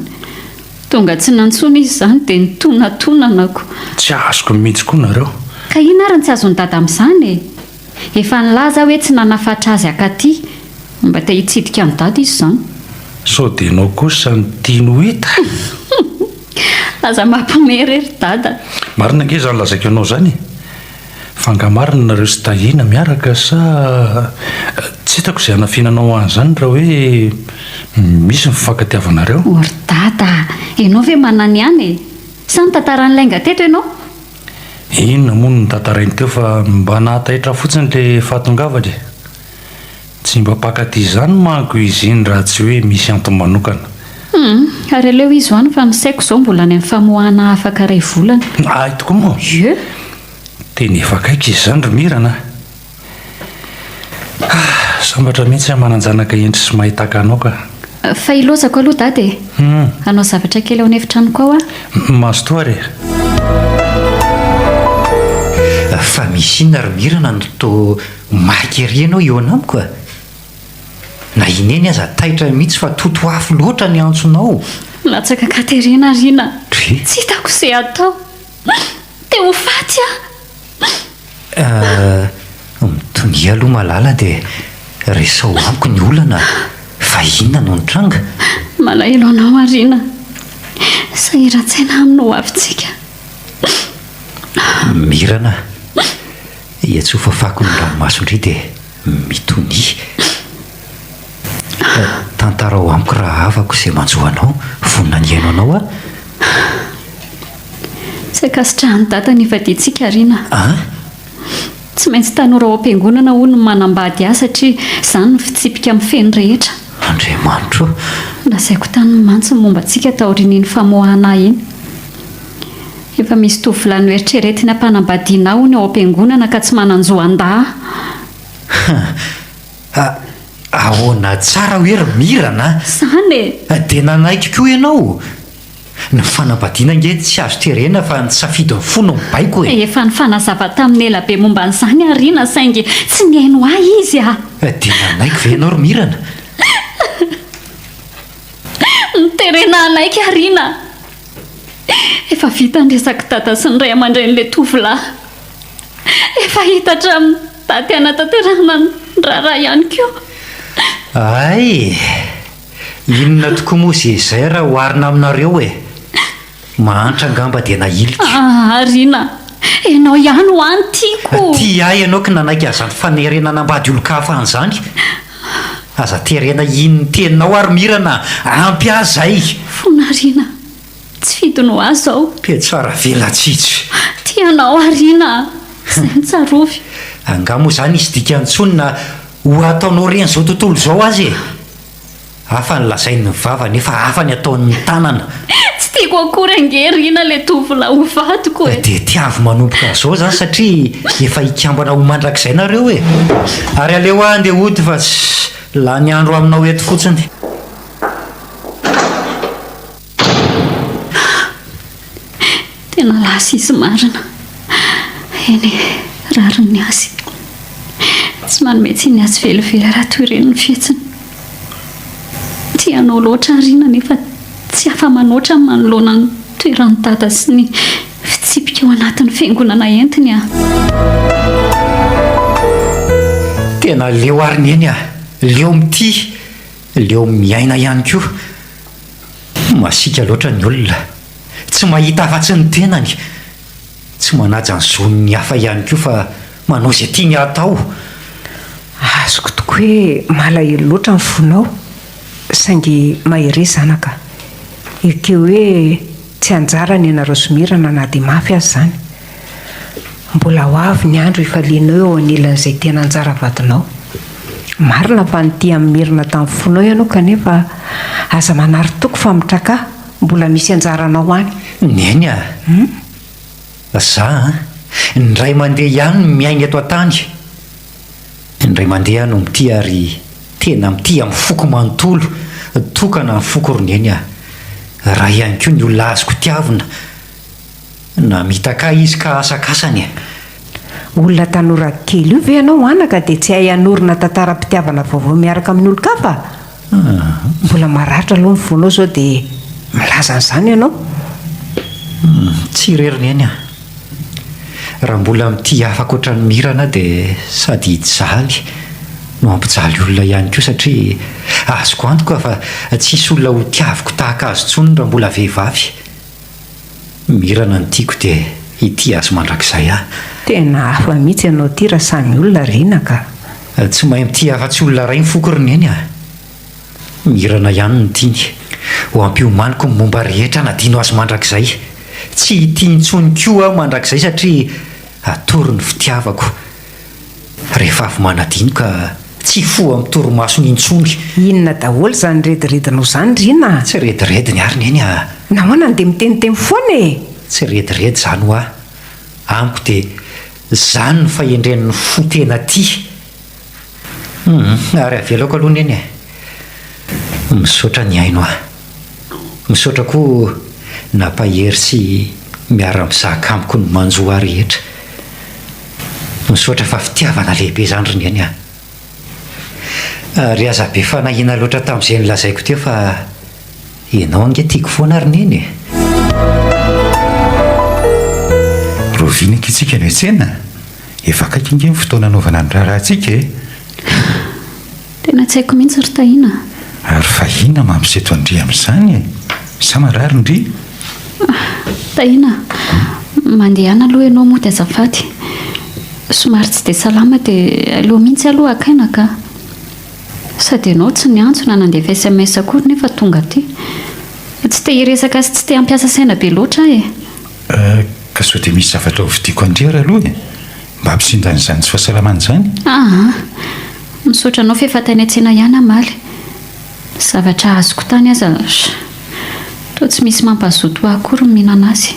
Speaker 1: Tonga tsy nantsoina izy izany dia nitonatonana ko. Tsy azoko
Speaker 3: mihitsy koa nareo. Ka inona ary no tsy
Speaker 1: azon'i Dada amin'izany e? Efa nilaza aho hoe tsy nanafatra azy hakaty, mba te hitsidika an'i Dada izy izany. Sao dia ianao
Speaker 3: kosa no tiany ho hita?
Speaker 1: Aza mampiomehy re ry Dada a! Marina ange izany
Speaker 3: lazaiko anao izany e! Fa angaha marina nareo sy Tahiana miaraka sa tsy hitako izay hanafinanao ahy an'izany raha hoe misy ny fifankatiavanareo? O ry Dada
Speaker 1: a! Ianao ve manana ihany e? Sa nitantara an'ilay nga teto ianao?
Speaker 3: Inona moa no notantarainy teo fa mba nahataitra fotsiny le fahatongavany e! Tsy mba mpankaty izany manko izy iny raha tsy hoe misy antony manokana. Humm, ary
Speaker 1: aleo izy ho any fa ny saiko izao mbola any amin'ny famoahana afaka iray volana. Ahy tokoa moa?
Speaker 3: Ie!
Speaker 1: Tena
Speaker 3: efa akaiky izy izany ry Mirana a! Sambatra mihitsy aho manan-janaka hendry sy mahay tahaka anao ka. Fa ilozako
Speaker 1: aloha Dada e! Hanao zavatra kely ao an'efitranoko ao aho. Mazotoa ary e!
Speaker 2: Fa misy inona ry Mirana no toa maika ery ianao eo anamiko a! Na i Neny aza taitra mihitsy fa totoafo loatra ny antsonao. Latsaka
Speaker 1: ankaterena ary iny aho. Tsy hitako
Speaker 2: izay hatao.
Speaker 1: Te ho faty aho. Ah,
Speaker 2: mitonia aloha Malala dia resaho amiko ny olana fa inona no nitranga? Malahelo
Speaker 1: anao Arina. Sahiran-tsaina amin'ny ho avintsika.
Speaker 2: Mirana, iantsoa fafako ny ranomason-dry dia. mitonia Tantarao amiko rahavako izay manjo anao Vonona ny hihaino anao aho
Speaker 1: Tsy ankasitrahan'i Dada ny vadiantsika Rina a An? Tsy maintsy tanora ao am-piangonana hono ny manambady ahy satria izany no fitsipika mifehy ny rehetra Andriamanitro
Speaker 2: ô! Lazaiko
Speaker 1: taminy mantsy ny momba antsika taorian'iny famoahana ahy iny. Efa misy tovolahy noeritreretina mpanambadiana hono ao am-piangonana ka tsy manan-jo handà a!
Speaker 2: Ahoana tsara hoe ry Mirana a! Izany e!
Speaker 1: Dia nanaiky koa
Speaker 2: ianao? Ny fanambadiana ange tsy azo terena fa ny safidin'ny fo no mibaiko e! Efa nifanazava
Speaker 1: taminy ela be momba an'izany aho ry ina saingy tsy nihaino ahy izy a! Dia nanaiky ve
Speaker 2: ianao ry Mirana?
Speaker 1: Terena hanaiky aho ry ina! Efa vita ny resak'i dada sy ny ray aman-drenin'ilay tovolahy. Efa hita hatramin'ny daty hanatanterahana ny raharaha ihany koa. Hay!
Speaker 2: Inona tokoa moa izay izay raha oharina aminareo e! Mahantra angamba dia nahilika. Aa Rina,
Speaker 1: ianao ihany ho'a no tiako. Tia ahy ianao ka
Speaker 2: nanaiky an'izany fanerena hanambady olon-kafa an'izany. Aza terena hino ny teninao ary mirana ampy ahy zay. Fona Rina
Speaker 1: a! Tsy fidiny ho ahy zao. Pejy faravelatsihy.
Speaker 2: Tia anao aho
Speaker 1: Rina a! Zay no tsarovy. Angaha moa zany
Speaker 2: hisy dikany tsony na ho ataonao reny zao tontolo zao aza e! Hafa ny lazain'ny vava nefa hafa ny ataon'ny tanana. Tsy tiako
Speaker 1: akory ange Rina le tovolahy ho vadiko e! Dia tiavo manomboka
Speaker 2: azao zany satria efa hikambana ho mandrakizay nareo e! Ary aleo aho ndeha hody fa tsy lany andro aminao eto fotsiny.
Speaker 1: Tena lasa izy marina. Eny e, rariny ny azy. Tsy manome tsiny azy velively raha toy ireny ny fihetsiny. Tia anao loatra àry i Nina nefa tsy afa-manoatra manoloana ny toeran'i Dada sy ny fitsipika ao anatin'ny fiangonana entiny an!
Speaker 2: Tena leo àry ny eny an! Leo mitia, leo miaina ihany koa. Masiaka loatra ny olona, tsy mahita afa-tsy ny tenany, tsy manaja ny zon'ny hafa ihany koa fa manao izay tiany hatao.
Speaker 5: Azoko tokoa hoe malahelo loatra ny fonao, saingy mahereza zanaka. Ekeo hoe tsy anjarany ianareo somerana na dia mafy aza izany. Mbola ho avy ny andro hifalianao eo anilan'izay tena anjara vadinao. Marina fa nitia an'i Merina tamin'ny fonao ianao kanefa aza manary toky fa mitraka, mbola misy anjaranao any. Neny a!
Speaker 2: Za an! indray mandeha ihany no miaina eto an-tany, indray mandeha aho no mitia ary tena mitia amin'ny foko manontolo tokana ny foko ry Neny a! raha ihany koa ny olona azoko tiavina, Namitaka ahy izy ka asakasany e!
Speaker 5: Olona tanora kely io ve ianao anaka dia tsy hay hanorina tantaram-pitiavana vaovao miaraka amin'ny olon-kafa? Mbola maratra aloha ny fonao sao dia milaza an'izany ianao. Tsy
Speaker 2: irery Neny a! Raha mbola mitia hafa ankoatra an'i Mirana dia sady hijaly no hampijaly olona ihany koa satria azoko antoka fa tsy hisy olona hotiaviko tahaka azy intsony raha mbola vehivavy. Mirana ny tiako dia ity azy mandrakizay ahy. Tena hafa
Speaker 5: mihitsy ianao ity raha samy olona ry Nina ka. Tsy mahay mitia
Speaker 2: afa-tsy olona iray ny foko ry Neny a! Mirana ihany no tiany ho ampiomaniko ny momba rehetra nadino azy mandrakizay. Tsy hitia intsony koa aho mandrakizay satria atory ny fitiavako. Rehefa avy manadino ka tsy hifoha amin'ny torimasony intsony. Inona daholo
Speaker 5: izany rediredinao izany ry Ina a! Tsy redirediny àry
Speaker 2: Neny a! Nahoana no dia miteniteny
Speaker 5: foana e! Tsy rediredy
Speaker 2: izany hoa! Amiko dia izany no fahendren'ny fo tena tia! Humm! Ary avelako aloha Neny e! Misaotra nihaino ahy. Misaotra koa nampahery sy miara mizaka amiko ny manjo ahy rehetra. Misaotra fa fitiavana lehibe izany ry Neny a. Ary aza be fanahiana loatra tamin'izay nolazaiko teo fa ianao ange tiako foana ry Neny e.
Speaker 4: Rovina eky isika miantsena, efa akaiky ange ny fotoana hanaovana ny raharahantsika e.
Speaker 1: Tena tsy haiko mihitsy ry Tahiana. Ary fa
Speaker 4: inona mampiseto an-dry amin'izany e? Sa marary ndry? Ah,
Speaker 1: Tahiana, mandehana aloha ianao mody azafady. Somary tsy dia salama dia aleo mihitsy aloha haka aina ka. Sady ianao tsy niantso na nandefa sms akory nefa tonga aty. Tsy te hiresaka sy tsy te hampiasa saina be loatra aho e. Ah,
Speaker 4: ka sao dia misy zavatra hovidiako an-dry ary aloha e? Mba ampisindrany izany tsy fahasalamana izany. Aa!
Speaker 1: Misaotra anao f'efa tany an-tsena ihany aho omaly. Zavatra azoko tany aza toa tsy misy mampahazoto ahy akory ny mihinana azy.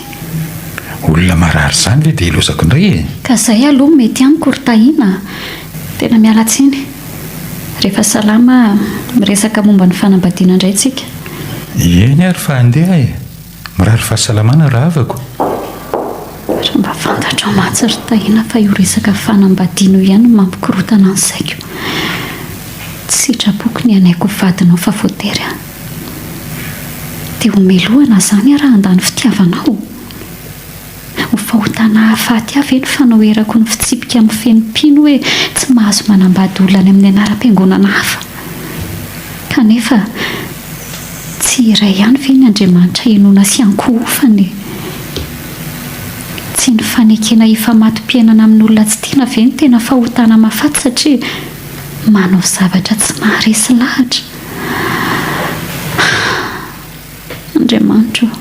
Speaker 1: Olona
Speaker 4: marary izany ve dia ilozako indray e! Ka izay aloha no mety
Speaker 1: amiko ry Tahiana a! Tena miala tsiny. Rehefa salama miresaka momba ny fanambadiana indray tsika. Eny
Speaker 4: ary fa handeha e! Mirary fahasalamana rahavako
Speaker 1: Ary mba fantatrao mantsy ry Tahiana fa io resaka fanambadiana io ihany no mampikorotana ny saiko. Tsy sitrapoko ny hanaiky ho vadinao fa voatery an. Dia homelohana izany aho raha handany fitiavanao? Ho fahotana hahafaty ahy ve ny fanoherako ny fitsipika amin'ny feny mpino hoe tsy mahazo manambady olona any amin'ny anaram-piangonana hafa? Kanefa, tsy iray ihany ve ny Andriamanitra hinoana sy ankohofana e? Tsy ny fanekena hifamato-piainana amin'olona tsy tiana ve no tena fahotana mahafaty satria manao zavatra tsy maharesy lahatra? Andriamanitra o!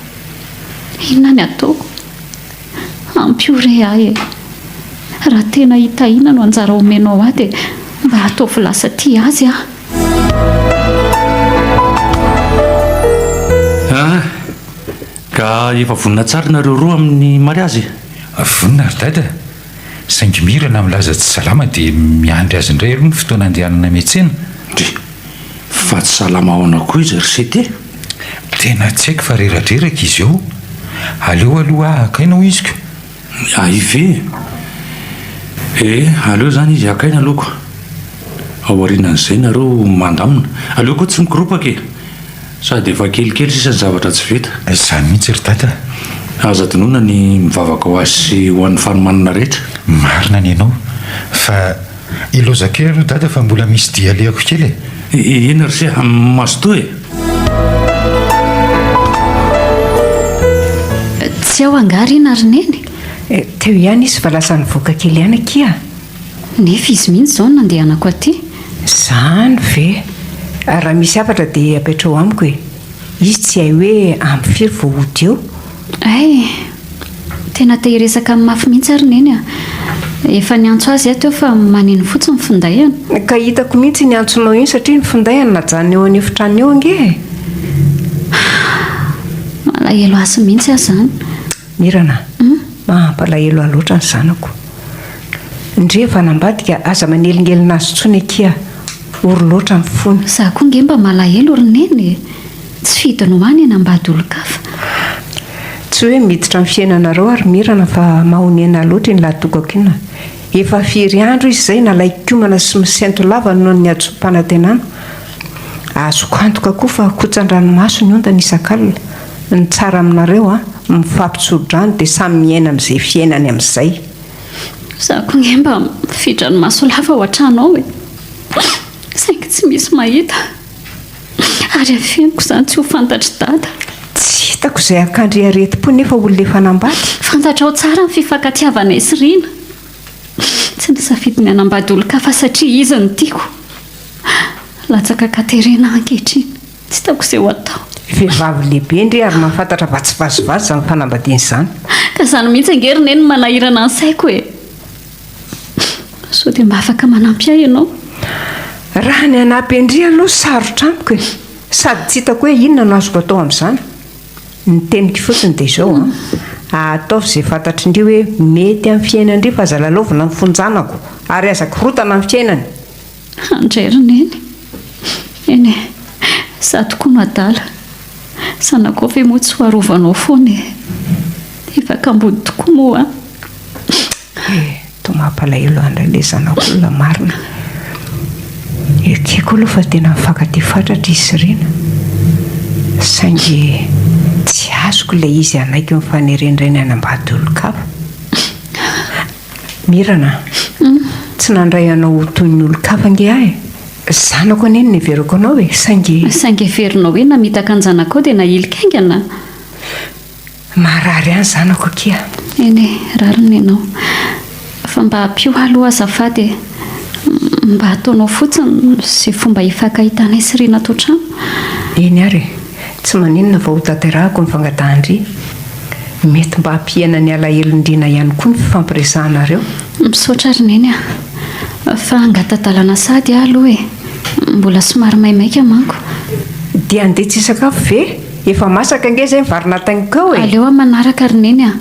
Speaker 1: Inona ny ataoko? Ampio re ahy e! Raha tena i Tahiana no anjara omenao ahy dia mba ataovy lasa tia azy aho.
Speaker 3: Ah! Ka efa vonona tsara nareo roa amin'ny mariazy e? Vonona ry
Speaker 4: Dada. Saingy mira na milaza tsy salama dia miandry azy indray aloha ny fotoana handehanana miantsena? Dry.
Speaker 3: Fa tsy salama ahoana koa izy ry Sitey? Tena
Speaker 4: tsy haiko fa reradreraka izy eo. Aleo aloha haka aina hoy iziko. Ny ahy ve?
Speaker 3: Ee, aleo izany izy haka aina aloha koa. Ao aorianan'izay nareo mandamina. Aleo koa tsy mikoropaka e! Sady efa kelikely sisa ny zavatra tsy vita. Izany mihitsy ry Dada
Speaker 4: a! Aza adinoina
Speaker 3: ny mivavaka ho azy sy ho an'ny fanomanana rehetra. Marina ny anao.
Speaker 4: Fa iloza kely aloha Dada fa mbola misy dia alehako kely e! Inona ry Sia?
Speaker 3: Mazotoa e!
Speaker 5: Tsy ao angaha ry
Speaker 1: Narineny?
Speaker 5: Teo
Speaker 1: ihany
Speaker 5: izy fa lasa nivoaka kely ihany
Speaker 1: akia.
Speaker 5: Nefa
Speaker 1: izy mihitsy izao no nandehanako aty. Izany
Speaker 5: ve? Raha misy hafatra dia apetraho amiko e! Izy tsy hay hoe amin'ny firy vao hody eo. Hay!
Speaker 1: Tena te hiresaka amin'ny mafy mihitsy ary Neny a! Efa niantso azy aho teo fa maneno fotsiny ny findainy. Ka hitako mihitsy iny
Speaker 5: antsonao iny satria ny findainy najanona eo an'efitrano eo ange e!
Speaker 1: Malahelo azy mihitsy aho izany. Mirana
Speaker 5: a! Mampalahelo ahy loatra ny zanako. Ndrii fa nambadika aza manelingelina azy tsony akia, ory loatra ny fony. Za koa nge mba
Speaker 1: malahelo ry neny e! Tsy fidiny ho any hanambady olon-kafa.
Speaker 5: Tsy hoe miditra amin'ny fiainanareo aho ry Mirana fa mahonena ahy loatra iny lahatokako iny a! Efa firy andro izy izay nalaikomana sy misento lava noho ny hadisoam-panantenana. Azoko antoka koa fa kotsan-dranomaso ny ondana isak'alina. Ny tsara aminareo a, mifampitsodrano dia samy miaina amin'izay fiainany amin'izay. Za
Speaker 1: ko nge mba mifidra ny maso lava hoatranao e! Saingy tsy misy mahita ary afeniko izany tsy ho fantatr'i Dada. Tsy hitako
Speaker 5: izay hakandre aretim-po nefa olona efa nambady. Fantatrao tsara
Speaker 1: ny fifankatiavanay sy Rina. Tsy nisafidy ny hanambady olon-kafa satria izy no tiako. Latsaka Katerina aho ankehitriny. Tsy hitako izay ho atao. Vehivavy lehibe
Speaker 5: ndry ary mahafantatra fa tsy vazivazy izany fanambadiana izany. Ka izany mihitsy
Speaker 1: ange ry Neny no manahirana ny saiko e! Sao dia mba afaka manampy ahy ianao? Raha
Speaker 5: ny hanampy an-dry aloha sarotra amiko e! Sady tsy hitako hoe inona no azoko atao amin'izany. Ny teniko fotsiny dia izao an! Ataovy izay fantatrin-dry hoe mety amin'ny fiainan-dry fa aza lalaovina ny fonjanako ary aza korotana ny fiainany! Handray
Speaker 1: ry Neny. Eny e, za tokoa no adala. Zanakao ve moa tsy ho arovanao foana e. Efa kambody tokoa moa an. Eh,
Speaker 5: toa mampalahelo an ilay zanak'olona marina. Ekeko aloha fa tena mifankatia fatratra izy sy Rina. Saingy tsy azoko ilay izy hanaiky ny fanerendrenay hanambady olon-kafa. Mirana a! tsy nandray anao ho toy ny olon-kafa ange aho e! Zanako anie no niheverako anao e! Saingy. Saingy heverinao hoe
Speaker 1: namitaka an-janakao dia nahilika haingana? Marary
Speaker 5: any zanako akia! Eny e,
Speaker 1: rariny ianao. Fa mba ampio ahy aloha azafady e! Mba ataonao fotsiny izay fomba hifankahitanay sy Rinatoa trano. Eny ary e!
Speaker 5: Tsy maninona fa hotanterahako ny fangatahan-dry. Mety mba hampihena ny alahelon-driana ihany koa ny fifampiresahanareo. Misaotra ry
Speaker 1: Neny a. Fa angaha tadalana sahady aho aloha e. Mbola somary maimaika manko. Dia handeha
Speaker 5: tsy hisakafo ve? Efa masaka ange izay ny vary natainiko eo e! Aleo amin'ny manaraka ry Neny
Speaker 1: a.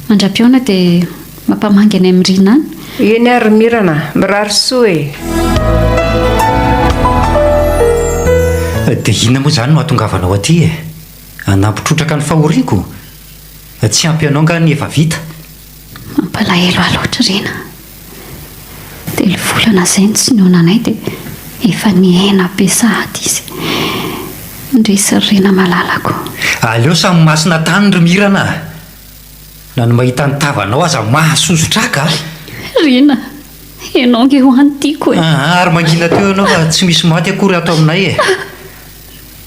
Speaker 1: Mandra-pihaona dia mampamangy anay mirina any. Eny ary ry Mirana,
Speaker 5: mirary soa e!
Speaker 2: Dia inona moa izany no hahatongavanao aty e? Hanampy trotraka ny fahoriako? Tsy ampy anao angaha ny efa vita? Mampalahelo
Speaker 1: ahy loatra Rina. Telo volana izay no tsy nionanay dia efa nihena be sahady izy. Indrisy ry Rina malalako. Aleo samy
Speaker 2: masina tany ry Mirana a! Na ny mahita ny tavanao aza mahasosotr'aka ahy. Rina,
Speaker 1: ianao ange ho any tiako e! Aa, ary mangina teo ianao
Speaker 2: fa tsy misy maty akory ato aminay e!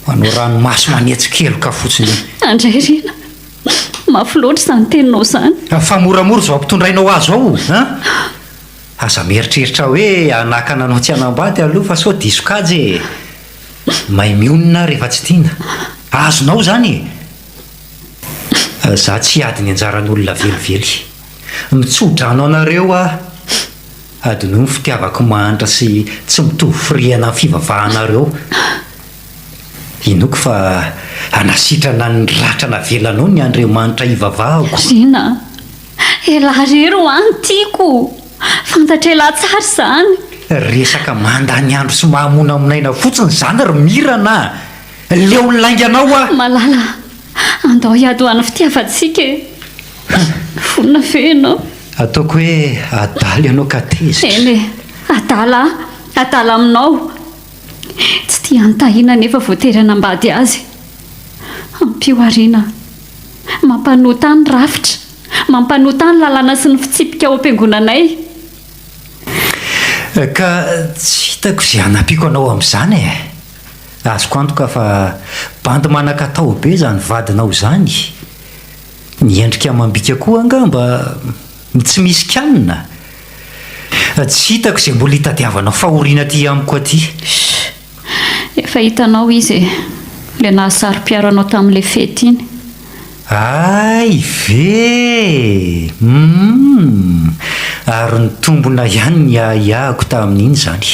Speaker 2: Manao ranomaso manetsy keloka fotsiny e! Andray Rina,
Speaker 1: mafy loatra izany teninao izany. Fa moramora izao
Speaker 2: ampitondraina ho ahy izao o! An! Aza mieritreritra hoe hanakana anao tsy hanambady aloha fa sao diso kajy e! May mionona aho rehefa tsy tiana. Azonao izany e! Za tsy hiady ny anjaran'olona velively. Mitso-drano anareo aho, adinoy ny fitiavako mahantra sy tsy mitovy firehana amin'ny fivavahanareo. Inoako fa hanasitrana ny ratra navelanao ny Andriamanitra hivavahako. Rina,
Speaker 1: elah rery ho any tiako, fantatr'elah tsara izany. Resaka
Speaker 2: mandany andro sy mahamonamonaina fotsiny izany ry Mirana a! Leo ny lainganao hoa! Malala a!
Speaker 1: Andao hiady ho an'ny fitiavantsika e! Vonona ve ianao? Ataoko hoe
Speaker 2: adala ianao ka tezitra. Eny e!
Speaker 1: Adala a! Adala aminao! Tsy tia an'i Tahiana nefa voatery hanambady azy. Ampio Arina a! Mampanota ny rafitra, mampanota ny lalàna sy ny fitsipika ao am-piangonanay.
Speaker 2: Ka tsy hitako izay hanampiako anao amin'izany e! Azoko antoka fa bandy manan-katao be izany vadinao izany. Miendrika amam-bika koa angamba ny tsy misy kianina. Tsy hitako izay mbola itadiavana fahoriana aty amiko aty. Shh!
Speaker 1: Efa hitanao izy e! Ilay nahasaro-piaro anao tamin'ilay fety iny. Hay
Speaker 2: ve eh! Hum! Ary nitombona ihany ny ahiahiko tamin'iny izany.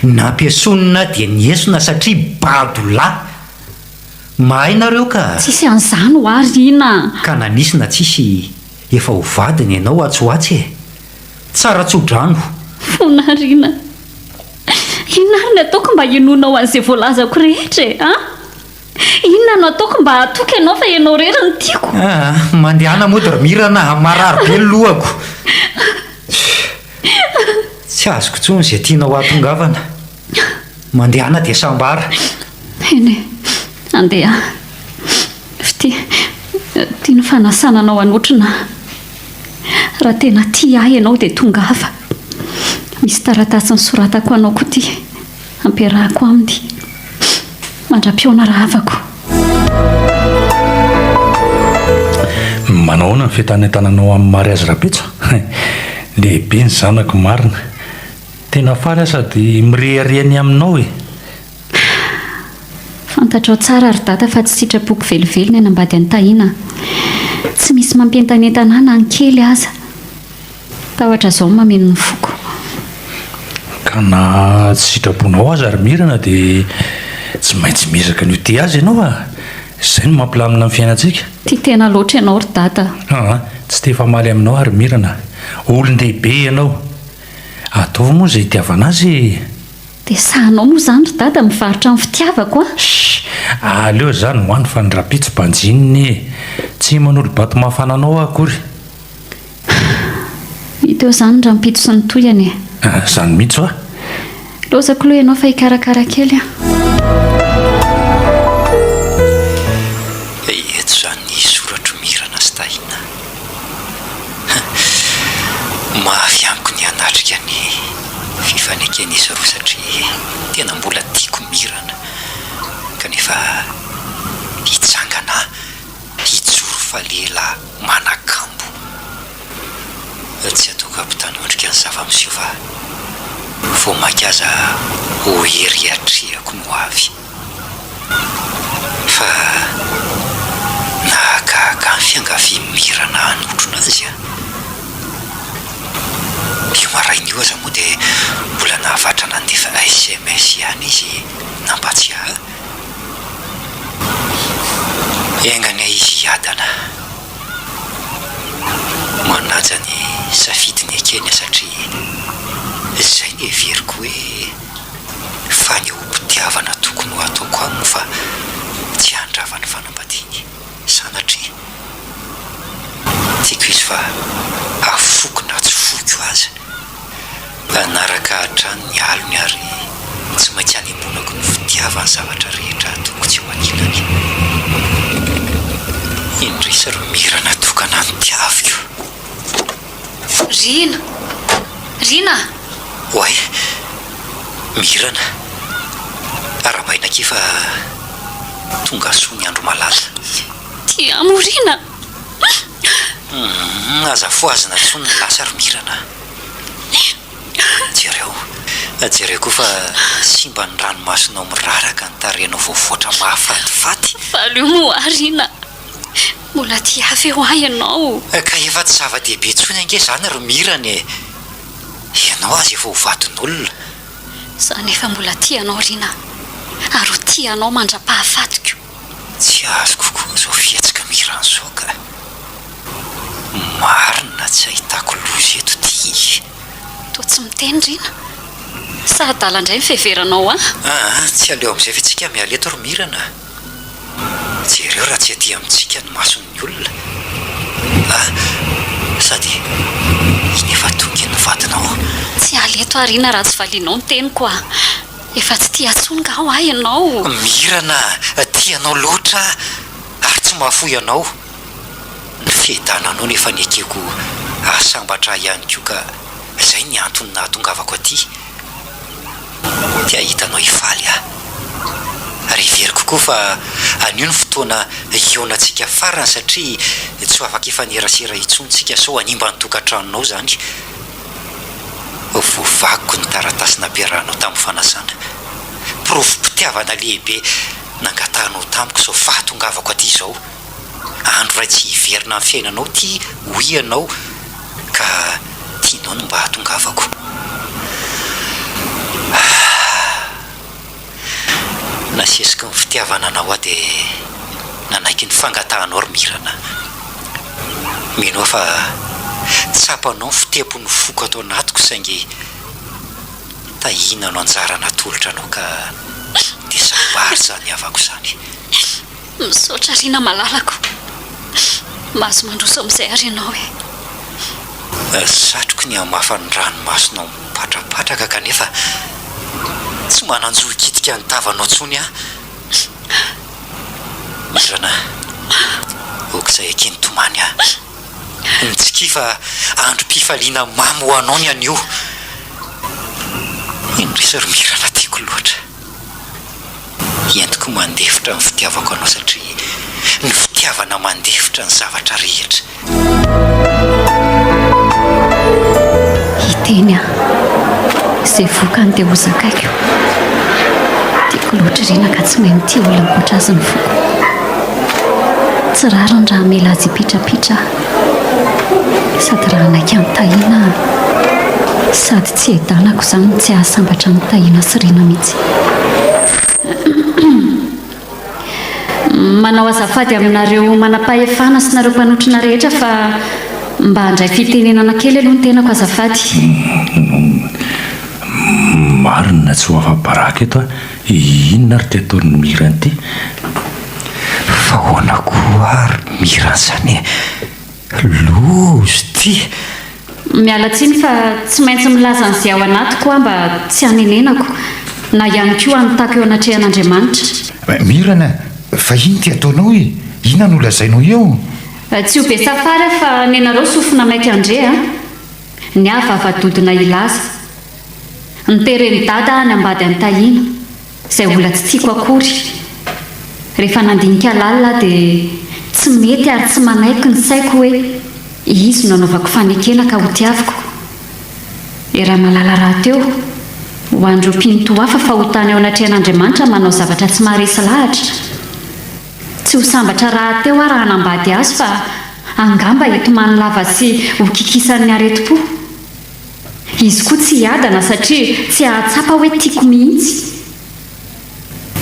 Speaker 2: Nampiesonina dia niesona satria bado lahy. Mahay nareo ka. Tsisy an'izany ho ahy
Speaker 1: ry ina a! Ka na nisy na
Speaker 2: tsisy efa ho vadiny ianao atsy ho atsy e! Tsara tso-drano. Fona a! Ry
Speaker 1: ina a! Inona ary ny ataoko mba hinoanao an'izay voalazako rehetra e! A! Inona no ataoko mba hahatoky ianao fa ianao irery no tiako? Aa, mandehana
Speaker 2: mody ry Mirana a, marary be ny lohako. Tsy azoko intsony izay tianao hahatongavana. Mandehana dia sambara. Eny e,
Speaker 1: andeha. Fitia, tia ny fanasana anao hanotrona aho. Raha tena tia ahy ianao dia tongava. Misy taratasy nosoratako ho anao koa ity. Hampiarahako aminy mandra-pihaona rahavako.
Speaker 3: Manao ahoana ny fitanetananao amin'i Mariazy Rapetsa? Lehibe ny zanako marina. Tena faly aho sady mirehareha ny aminao e!
Speaker 1: Fantatrao tsara ry Dada fa tsy sitrapoko velively ny hanambady an'i Tahiana a! Tsy misy mampientanentana ahy na ny kely aza. Tahotra zao mameno ny foko.
Speaker 3: Ka na tsy sitrabonao aza ry Mirana dia tsy maintsy miezaka ny ho tia azy ianao a! Izay no mampilamina ny fiainantsika. Tia tena loatra
Speaker 1: ianao ry Dada a! Aa! Tsy te
Speaker 3: hifamaly aminao aho ry Mirana a! Olon-dehibe ianao! Ataovy moa izay itiavana azy e! Dia sahanao
Speaker 1: moa izany ry Dada mivarotra ny fitiavako a! Shh! Aleo
Speaker 3: izany ho any fa ny rahampitso banjinina e! Tsy manolo-bato mafana anao aho akory.
Speaker 1: Hita eo izany rampitso sy ny tohiny e! Ah, izany mihitsy hoa!
Speaker 3: Lozako aloha
Speaker 1: ianao fa hikarakara kely aho.
Speaker 2: Eia tsy izany soratro Mirana sy Tahiana a! Mafy amiko ny hanatrika ny fifaneken'izy roa satria tena mbola tiako Mirana kanefa hitsangana Mpijoro fa lela manakambo. Tsy atoka mpitandro endrika ny zava-miseho fa vao mainka aza ho hery iatrehako ny ho avy. Fa nahagaga ny fiangavian'i Mira nahanotrona azy an! Io maraina io aza moa dia mbola nahavatra nandefa sms ihany izy nampatsiahy ahy. Enga anie izy hiadana manaja ny safidiny ekeny a satria izay no heveriko hoe fanehoam-pitiavana tokony ho ataoko aminy fa tsy handrava ny fanambadiany. sanatria tiako izy fa afoiko na tsy foiko aza Mpanaraka hatrany ny alony ary tsy maintsy hanemponako ny fitiavany zavatra rehetra ataoko tsy eo ankilany Indrisy ry Mira natokana ny tiaviko. Rina!
Speaker 1: Rina!
Speaker 2: Oay! Mirana! Arahabaina akia fa tonga soa ny andro malaza. Ti amo
Speaker 1: Rina!
Speaker 2: Hum! Aza fohazina tsony ny lasa ry Mirana a! Jereo! Jereo koa fa simba ny ranomasonao miraraka ny tarehinao voavoatra mahafatifaty! Valio moa
Speaker 1: Rina! Mbola tia feo ahy ianao. Ka efa tsy zava-dehibe
Speaker 2: intsony ange izany ry Mirana e! Ianao aza efa ho vadin'olona. Za
Speaker 1: nefa mbola tia anao Rina a! Ary ho tia anao mandra-pahafatiko. Tsy
Speaker 2: azoko koa izao fihetsik'i Mirana izao ka! Marina tsy ahitako loza eto ty e! Toa tsy
Speaker 1: miteny Rina. Sa adala indray ny fiheveranao ahy? Aa, tsy aleo
Speaker 2: amin'izay ve tsika miala eto ry Mirana? Jereo raha tsy aty amintsika ny mason'ny olona a! Sady iny efa tongy ny vadinao. Tsy hiala eto
Speaker 1: aho Rina raha tsy valianao ny teniko a! Efa tsy tia intsony nga hoa ianao? Mirana
Speaker 2: a! Tia anao loatra aho ary tsy mahafoy anao. Ny fiadananao no efa nekeko hahasambatra ahy ihany koa ka izay ny antony nahatongavako aty. dia hitanao hifaly aho. Ary heveriko koa fa anio no fotoana hihaonantsika farany satria tsy ho afaka hifanerasera intsony tsika sao hanimba ny tokantranonao izany. Voavakiko ny taratasy nampiarahanao tamin'ny fanasana. Porofom-pitiavana lehibe nangatahanao tamiko sao fahatongavako aty izao. andro iray tsy hiverina amin'ny fiainanao ity hoy ianao ka tianao ny mba hatongavako ah nasesiky ny fitiavana anao aho dia nanaiky ny fangatahanao ry mirana mino aho fa tsapanao ny fitempon'ny foko ato anatiko saingy tahiana no anjara natolotra anao ka dia sambary izany havako izany Misaotra
Speaker 1: Rina malalako. Mahazo mandroso amin'izay ary ianao e. Ry
Speaker 2: satroky ny hamafa ny ranomasonao mipatrapatraka kanefa tsy manan-jo hikitika ny tavanao intsony aho. Irana, ok'izay akeeny tomany a. Mitsikia fa androm-pifaliana mamy ho anao ny anio. Indrisy ry Mirana tiako loatra. Entiko mandefitra ny fitiavako anao satria ny fitiavana mandefitra ny zavatra rehetra.
Speaker 1: Hiteny aho, izay vokany dia ho zakaiko. Tiako loatra ry Rina ka tsy mahay mitia olona ankoatra azy ny foko. Tsy rariny raha hamela azy hipitrapitra aho. Sady raha hanaiky an'i Tahiana sady tsy edanako izany ny tsy hahasambatra an'i Tahiana sy Rina mihitsy. Manao azafady aminareo manampahefana sy nareo mpanotrona rehetra fa mba handray fitenenana kely aloha ny tenako azafady.
Speaker 3: Marina tsy ho afa-baraka eto aho. Inona ary ty ataon'i Mira an'ity?
Speaker 2: Fa ahoana koa ary Mira an'izany e? Loza ty! Miala
Speaker 1: tsiny fa tsy maintsy milaza an'izay ao anatiko aho mba tsy hanenenako, na ihany koa hanotako eo anatrehan'Andriamanitra. Mira an!
Speaker 4: Fa inona ty ataonao e? Inona no lazainao eo? Tsy ho be
Speaker 1: safary aho fa nenareo sofina maika ndre a! Ny ahy vava-dodona hilaza. Niteren'i Dada any ambady an'i Tahiana, izay mbola tsy tiako akory. Rehefa nandinika lalina aho dia tsy mety ary tsy manaiky ny saiko hoe izy no anaovako fanekena ka hotiaviko. I Ramalala rahateo, ho an'ireo mpino toa afa fahotana eo anatrehan'Andriamanitra manao zavatra tsy maharesy lahatra. Tsy ho sambatra rahateo aho raha hanambady azy fa angamba hitomany lava sy hokikisan'ny aretim-po. Izy koa tsy hiadana satria tsy hahatsapa hoe tiako mihitsy.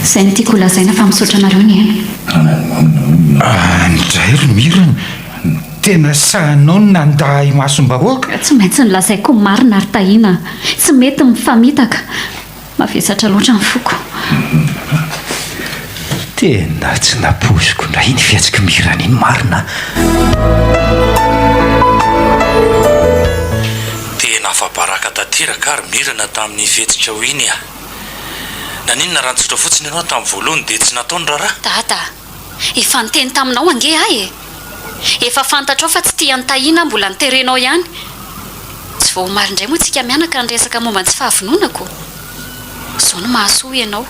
Speaker 1: Izay no tiako holazaina fa misaotra anareo nihaino. Any
Speaker 4: indray ry Mirana, tena sahinao ny nandà imasom-bahoaka? Tsy maintsy nolazaiko
Speaker 1: ny marina ry Tahiana, tsy mety ny mifamitaka. Mavesatra loatra ny foko.
Speaker 2: Tena tsy nampoiziko indray iny fihetsik'i Mirana iny marina an!
Speaker 3: Tena afa-baraka tanteraka ary Mirana tamin'iny fihetsikao iny an! Naninona raha nitsotra fotsiny ianao tamin'ny voalohany dia tsy natao ny raharaha? Dada a!
Speaker 1: Efa niteny taminao ange aho e! Efa fantatrao fa tsy tia an'i Tahiana aho mbola niterenao ihany. Tsy vao omaly indray moa tsika mianaka niresaka momba ny tsy fahavononako. Zao no mahasoa ianao.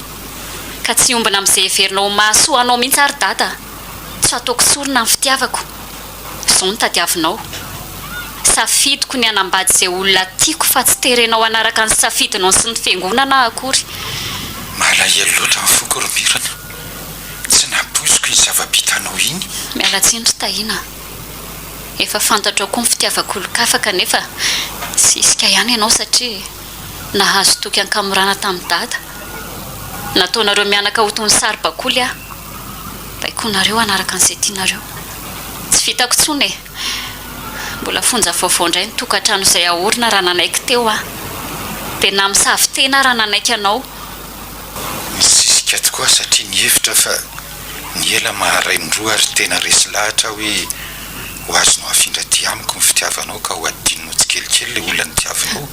Speaker 1: Ka tsy hiombona amin'izay heverinao ho mahasoa anao mihitsy ary Dada. Tsy hataoko sorona ny fitiavako. Zao no tadiavinao. Safidiko ny hanambady izay olona tiako fa tsy terenao hanaraka ny safidinao sy ny fiangonana aho akory. Malahelo
Speaker 4: loatra ny foko ry Mirana. tsy napoiziko iny zava-bitanao iny. Miala tsiny ry Tahiana
Speaker 1: a! Efa fantatrao koa ny fitiavako olon-kafa kanefa tsy hisika ihany ianao satria nahazo toky an-kamorana tamin'i Dada. Nataonareo mianaka ho toy ny saribakoly aho. Baikoinareo hanaraka an'izay tianareo. Tsy vitako intsony e! Mbola fonja vaovao indray ny tokantrano izay ahorona raha nanaiky teo aho. Dia namisavy tena aho raha nanaiky anao.
Speaker 4: Nisisika tokoa aho satria nihevitra aho fa ny ela maharay ny roa ary tena resy lahatra aho hoe ho azonao afindra aty amiko ny fitiavanao ka ho adinonao tsikelikely ilay olona nitiavinao.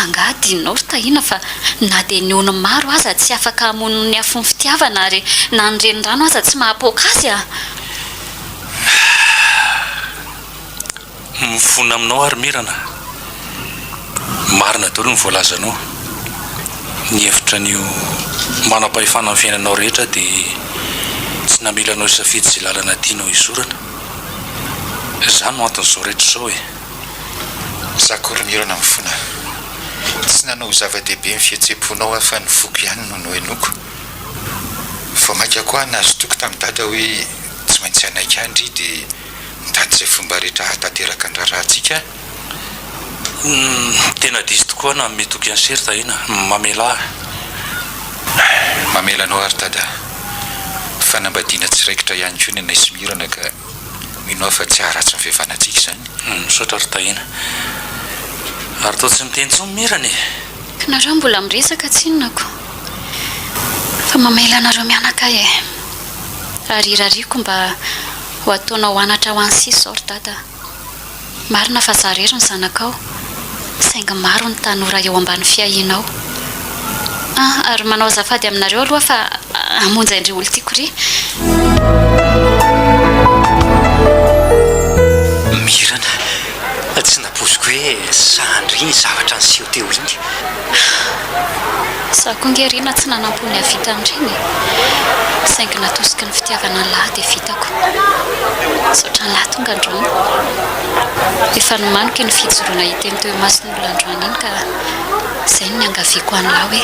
Speaker 4: Angaha
Speaker 1: adinonao ry Tahiana fa na dia ny ony maro aza tsy afaka hamono ny afon'ny fitiavana ary na ny renirano aza tsy mahapoaka azy a!
Speaker 3: Mifona aminao ary Mirana a! Marina daholo ny voalazanao, ny hevitra an'io manam-pahefana amin'ny fiainanao rehetra dia tsy namela anao hisafidy izay lalana tianao hizorana,
Speaker 4: izany no
Speaker 3: anton'izao rehetra
Speaker 4: izao e! Zako ry
Speaker 3: Mirana mifona,
Speaker 4: tsy nanao ho zava-dehibe ny fihetsem-ponao aho fa ny foko ihany no nohenoiko, vao maika koa aho nazotoako tamin'i Dada hoe tsy maintsy hanaiky ahy ndry dia. mitady izay fomba rehetra hahatanteraka ny raharahantsika aho.
Speaker 3: Tena diso tokoa aho nanome toky an'i Sir Tahiana. Mamelà aho.
Speaker 4: Mamela anao àry Dada. Fanambadiana tsy raikitra ihany koa ny anay sy Mirana ka mino aho fa tsy haharatsy ny fihavanantsika izany. Misaotra ry Tahiana.
Speaker 3: Ary toa tsy miteny intsony Mirana e! Ka nareo mbola
Speaker 1: miresaka tsinonako fa mamela anareo mianaka ahy e! Rarirariako mba. Ho ataonao anatra ho an'i Sisor ry dada a! Marina fa zara ery ny zanakao, saingy maro ny tanora eo ambany fiahianao a! Ary manao azafady aminareo aloha fa hamonjy an-dry olon-tiako ry.
Speaker 2: Mirana, Tsy nampoiziko hoe sahy handre iny zavatra niseho teo iny.
Speaker 1: Izaho koa ange ry na tsy nanampo ny hahavita an'ireny e! Saingy natosiky ny fitiavana an'lah dia vitako. Misaotra an'lah tonga androany. Efa nomaniko iny fijoroana hiteny teo imason'olona androany iny ka izay no niangaviako an'lah hoe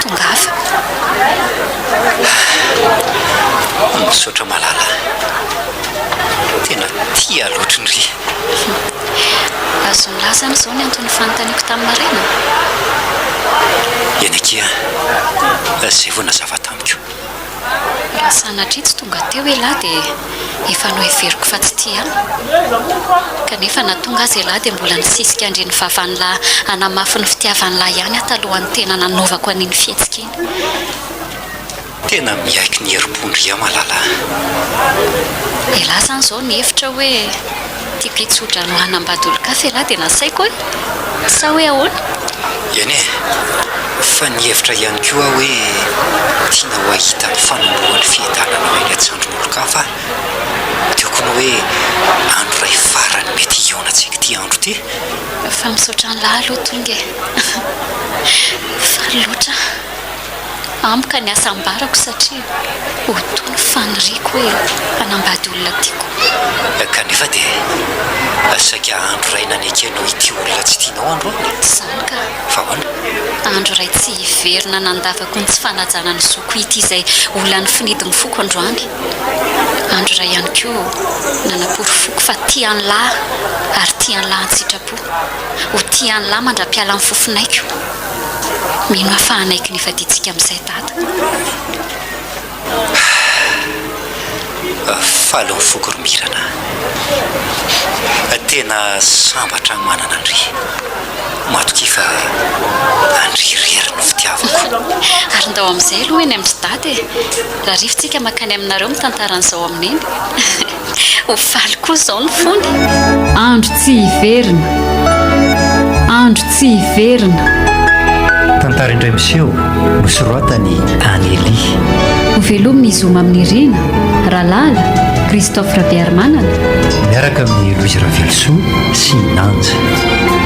Speaker 1: tongava.
Speaker 2: Misaotra malala a! Tena tia lotrny ry. Azon'ny
Speaker 1: lahy izany izao ny anton'ny fanontaniako tamin'i Marina?
Speaker 2: Yannick a! Izay vao nazava tamiko. Raha
Speaker 1: sanatria tsy tonga teo ialahy dia efa noheveriko fa tsy tia ahy. Kanefa na tonga aza ialahy dia mbola nisisika handre ny vavan'lah hanamafy ny fitiavan'lah ihany aho talohan'ny tena nanaovako an'iny fihetsika iny.
Speaker 2: Tena miaiky ny herim-po ndry a Malala a! Elah
Speaker 1: zany izao ny hevitra hoe tiako hitsodrano hanambady olon-kafa elah dia nasaiko hoe sa hoe ahoana? Eny e!
Speaker 2: Fa nihevitra ihany koa aho hoe tianao hahita ny fanombohan'ny fiadananao eny an-tsandrin'olon-kafa aho. Teo koa ny hoe andro iray farany mety hihaonantsika ity andro ity. Fa misaotra
Speaker 1: an'lah aloha tonga e! Faly loatra. Amiko ny asa ambarako satria ho toy ny faniriako hoe hanambady olona tiako. Kanefa
Speaker 2: dia saika andro iray nanekenao hitia olona tsy tianao andro aho. Izany ka. Fa
Speaker 1: ahoana?
Speaker 2: Andro iray tsy
Speaker 1: hiverina nandavako ny tsy fanajana ny zoko hitia izay ho lany finidin'ny foko androany. Andro iray ihany koa nanaporofoko fa tia an'lah ary tia an'lah an-tsitrapo. Ho tia an'i Lama ndra-piala ny fofonaiko Mino aho fa hanaiky ny hifadiantsika amin'izay Dada
Speaker 2: ah. Faly ny foko ry Mirana ah. Tena sambatra aho manana an-dry Matokia fa an-dry irery no fitiavako Ary ndao amin'izay
Speaker 1: aloha eny amin-dry Dada e Raha rivotsika mankany aminareo mitantara an'izao amin'ny Neny Ho faly koa izao ny fony. Andro tsy
Speaker 6: hiverina, andro tsy hiverina.
Speaker 2: Tantara indray miseho nosoratan'i Anneli. Ho
Speaker 6: velomy ny zoma amin'ny Rina, Ralala, Christophe Rabearimanana. Miaraka amin'ny
Speaker 2: Louise Ravelosoa sy Nanja.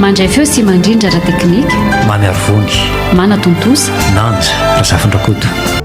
Speaker 2: Mandray feo
Speaker 6: sy mandrindra ara-teknika. Mamy
Speaker 2: Arivony.
Speaker 6: Manatontosa. Nanja Razafindrakoto.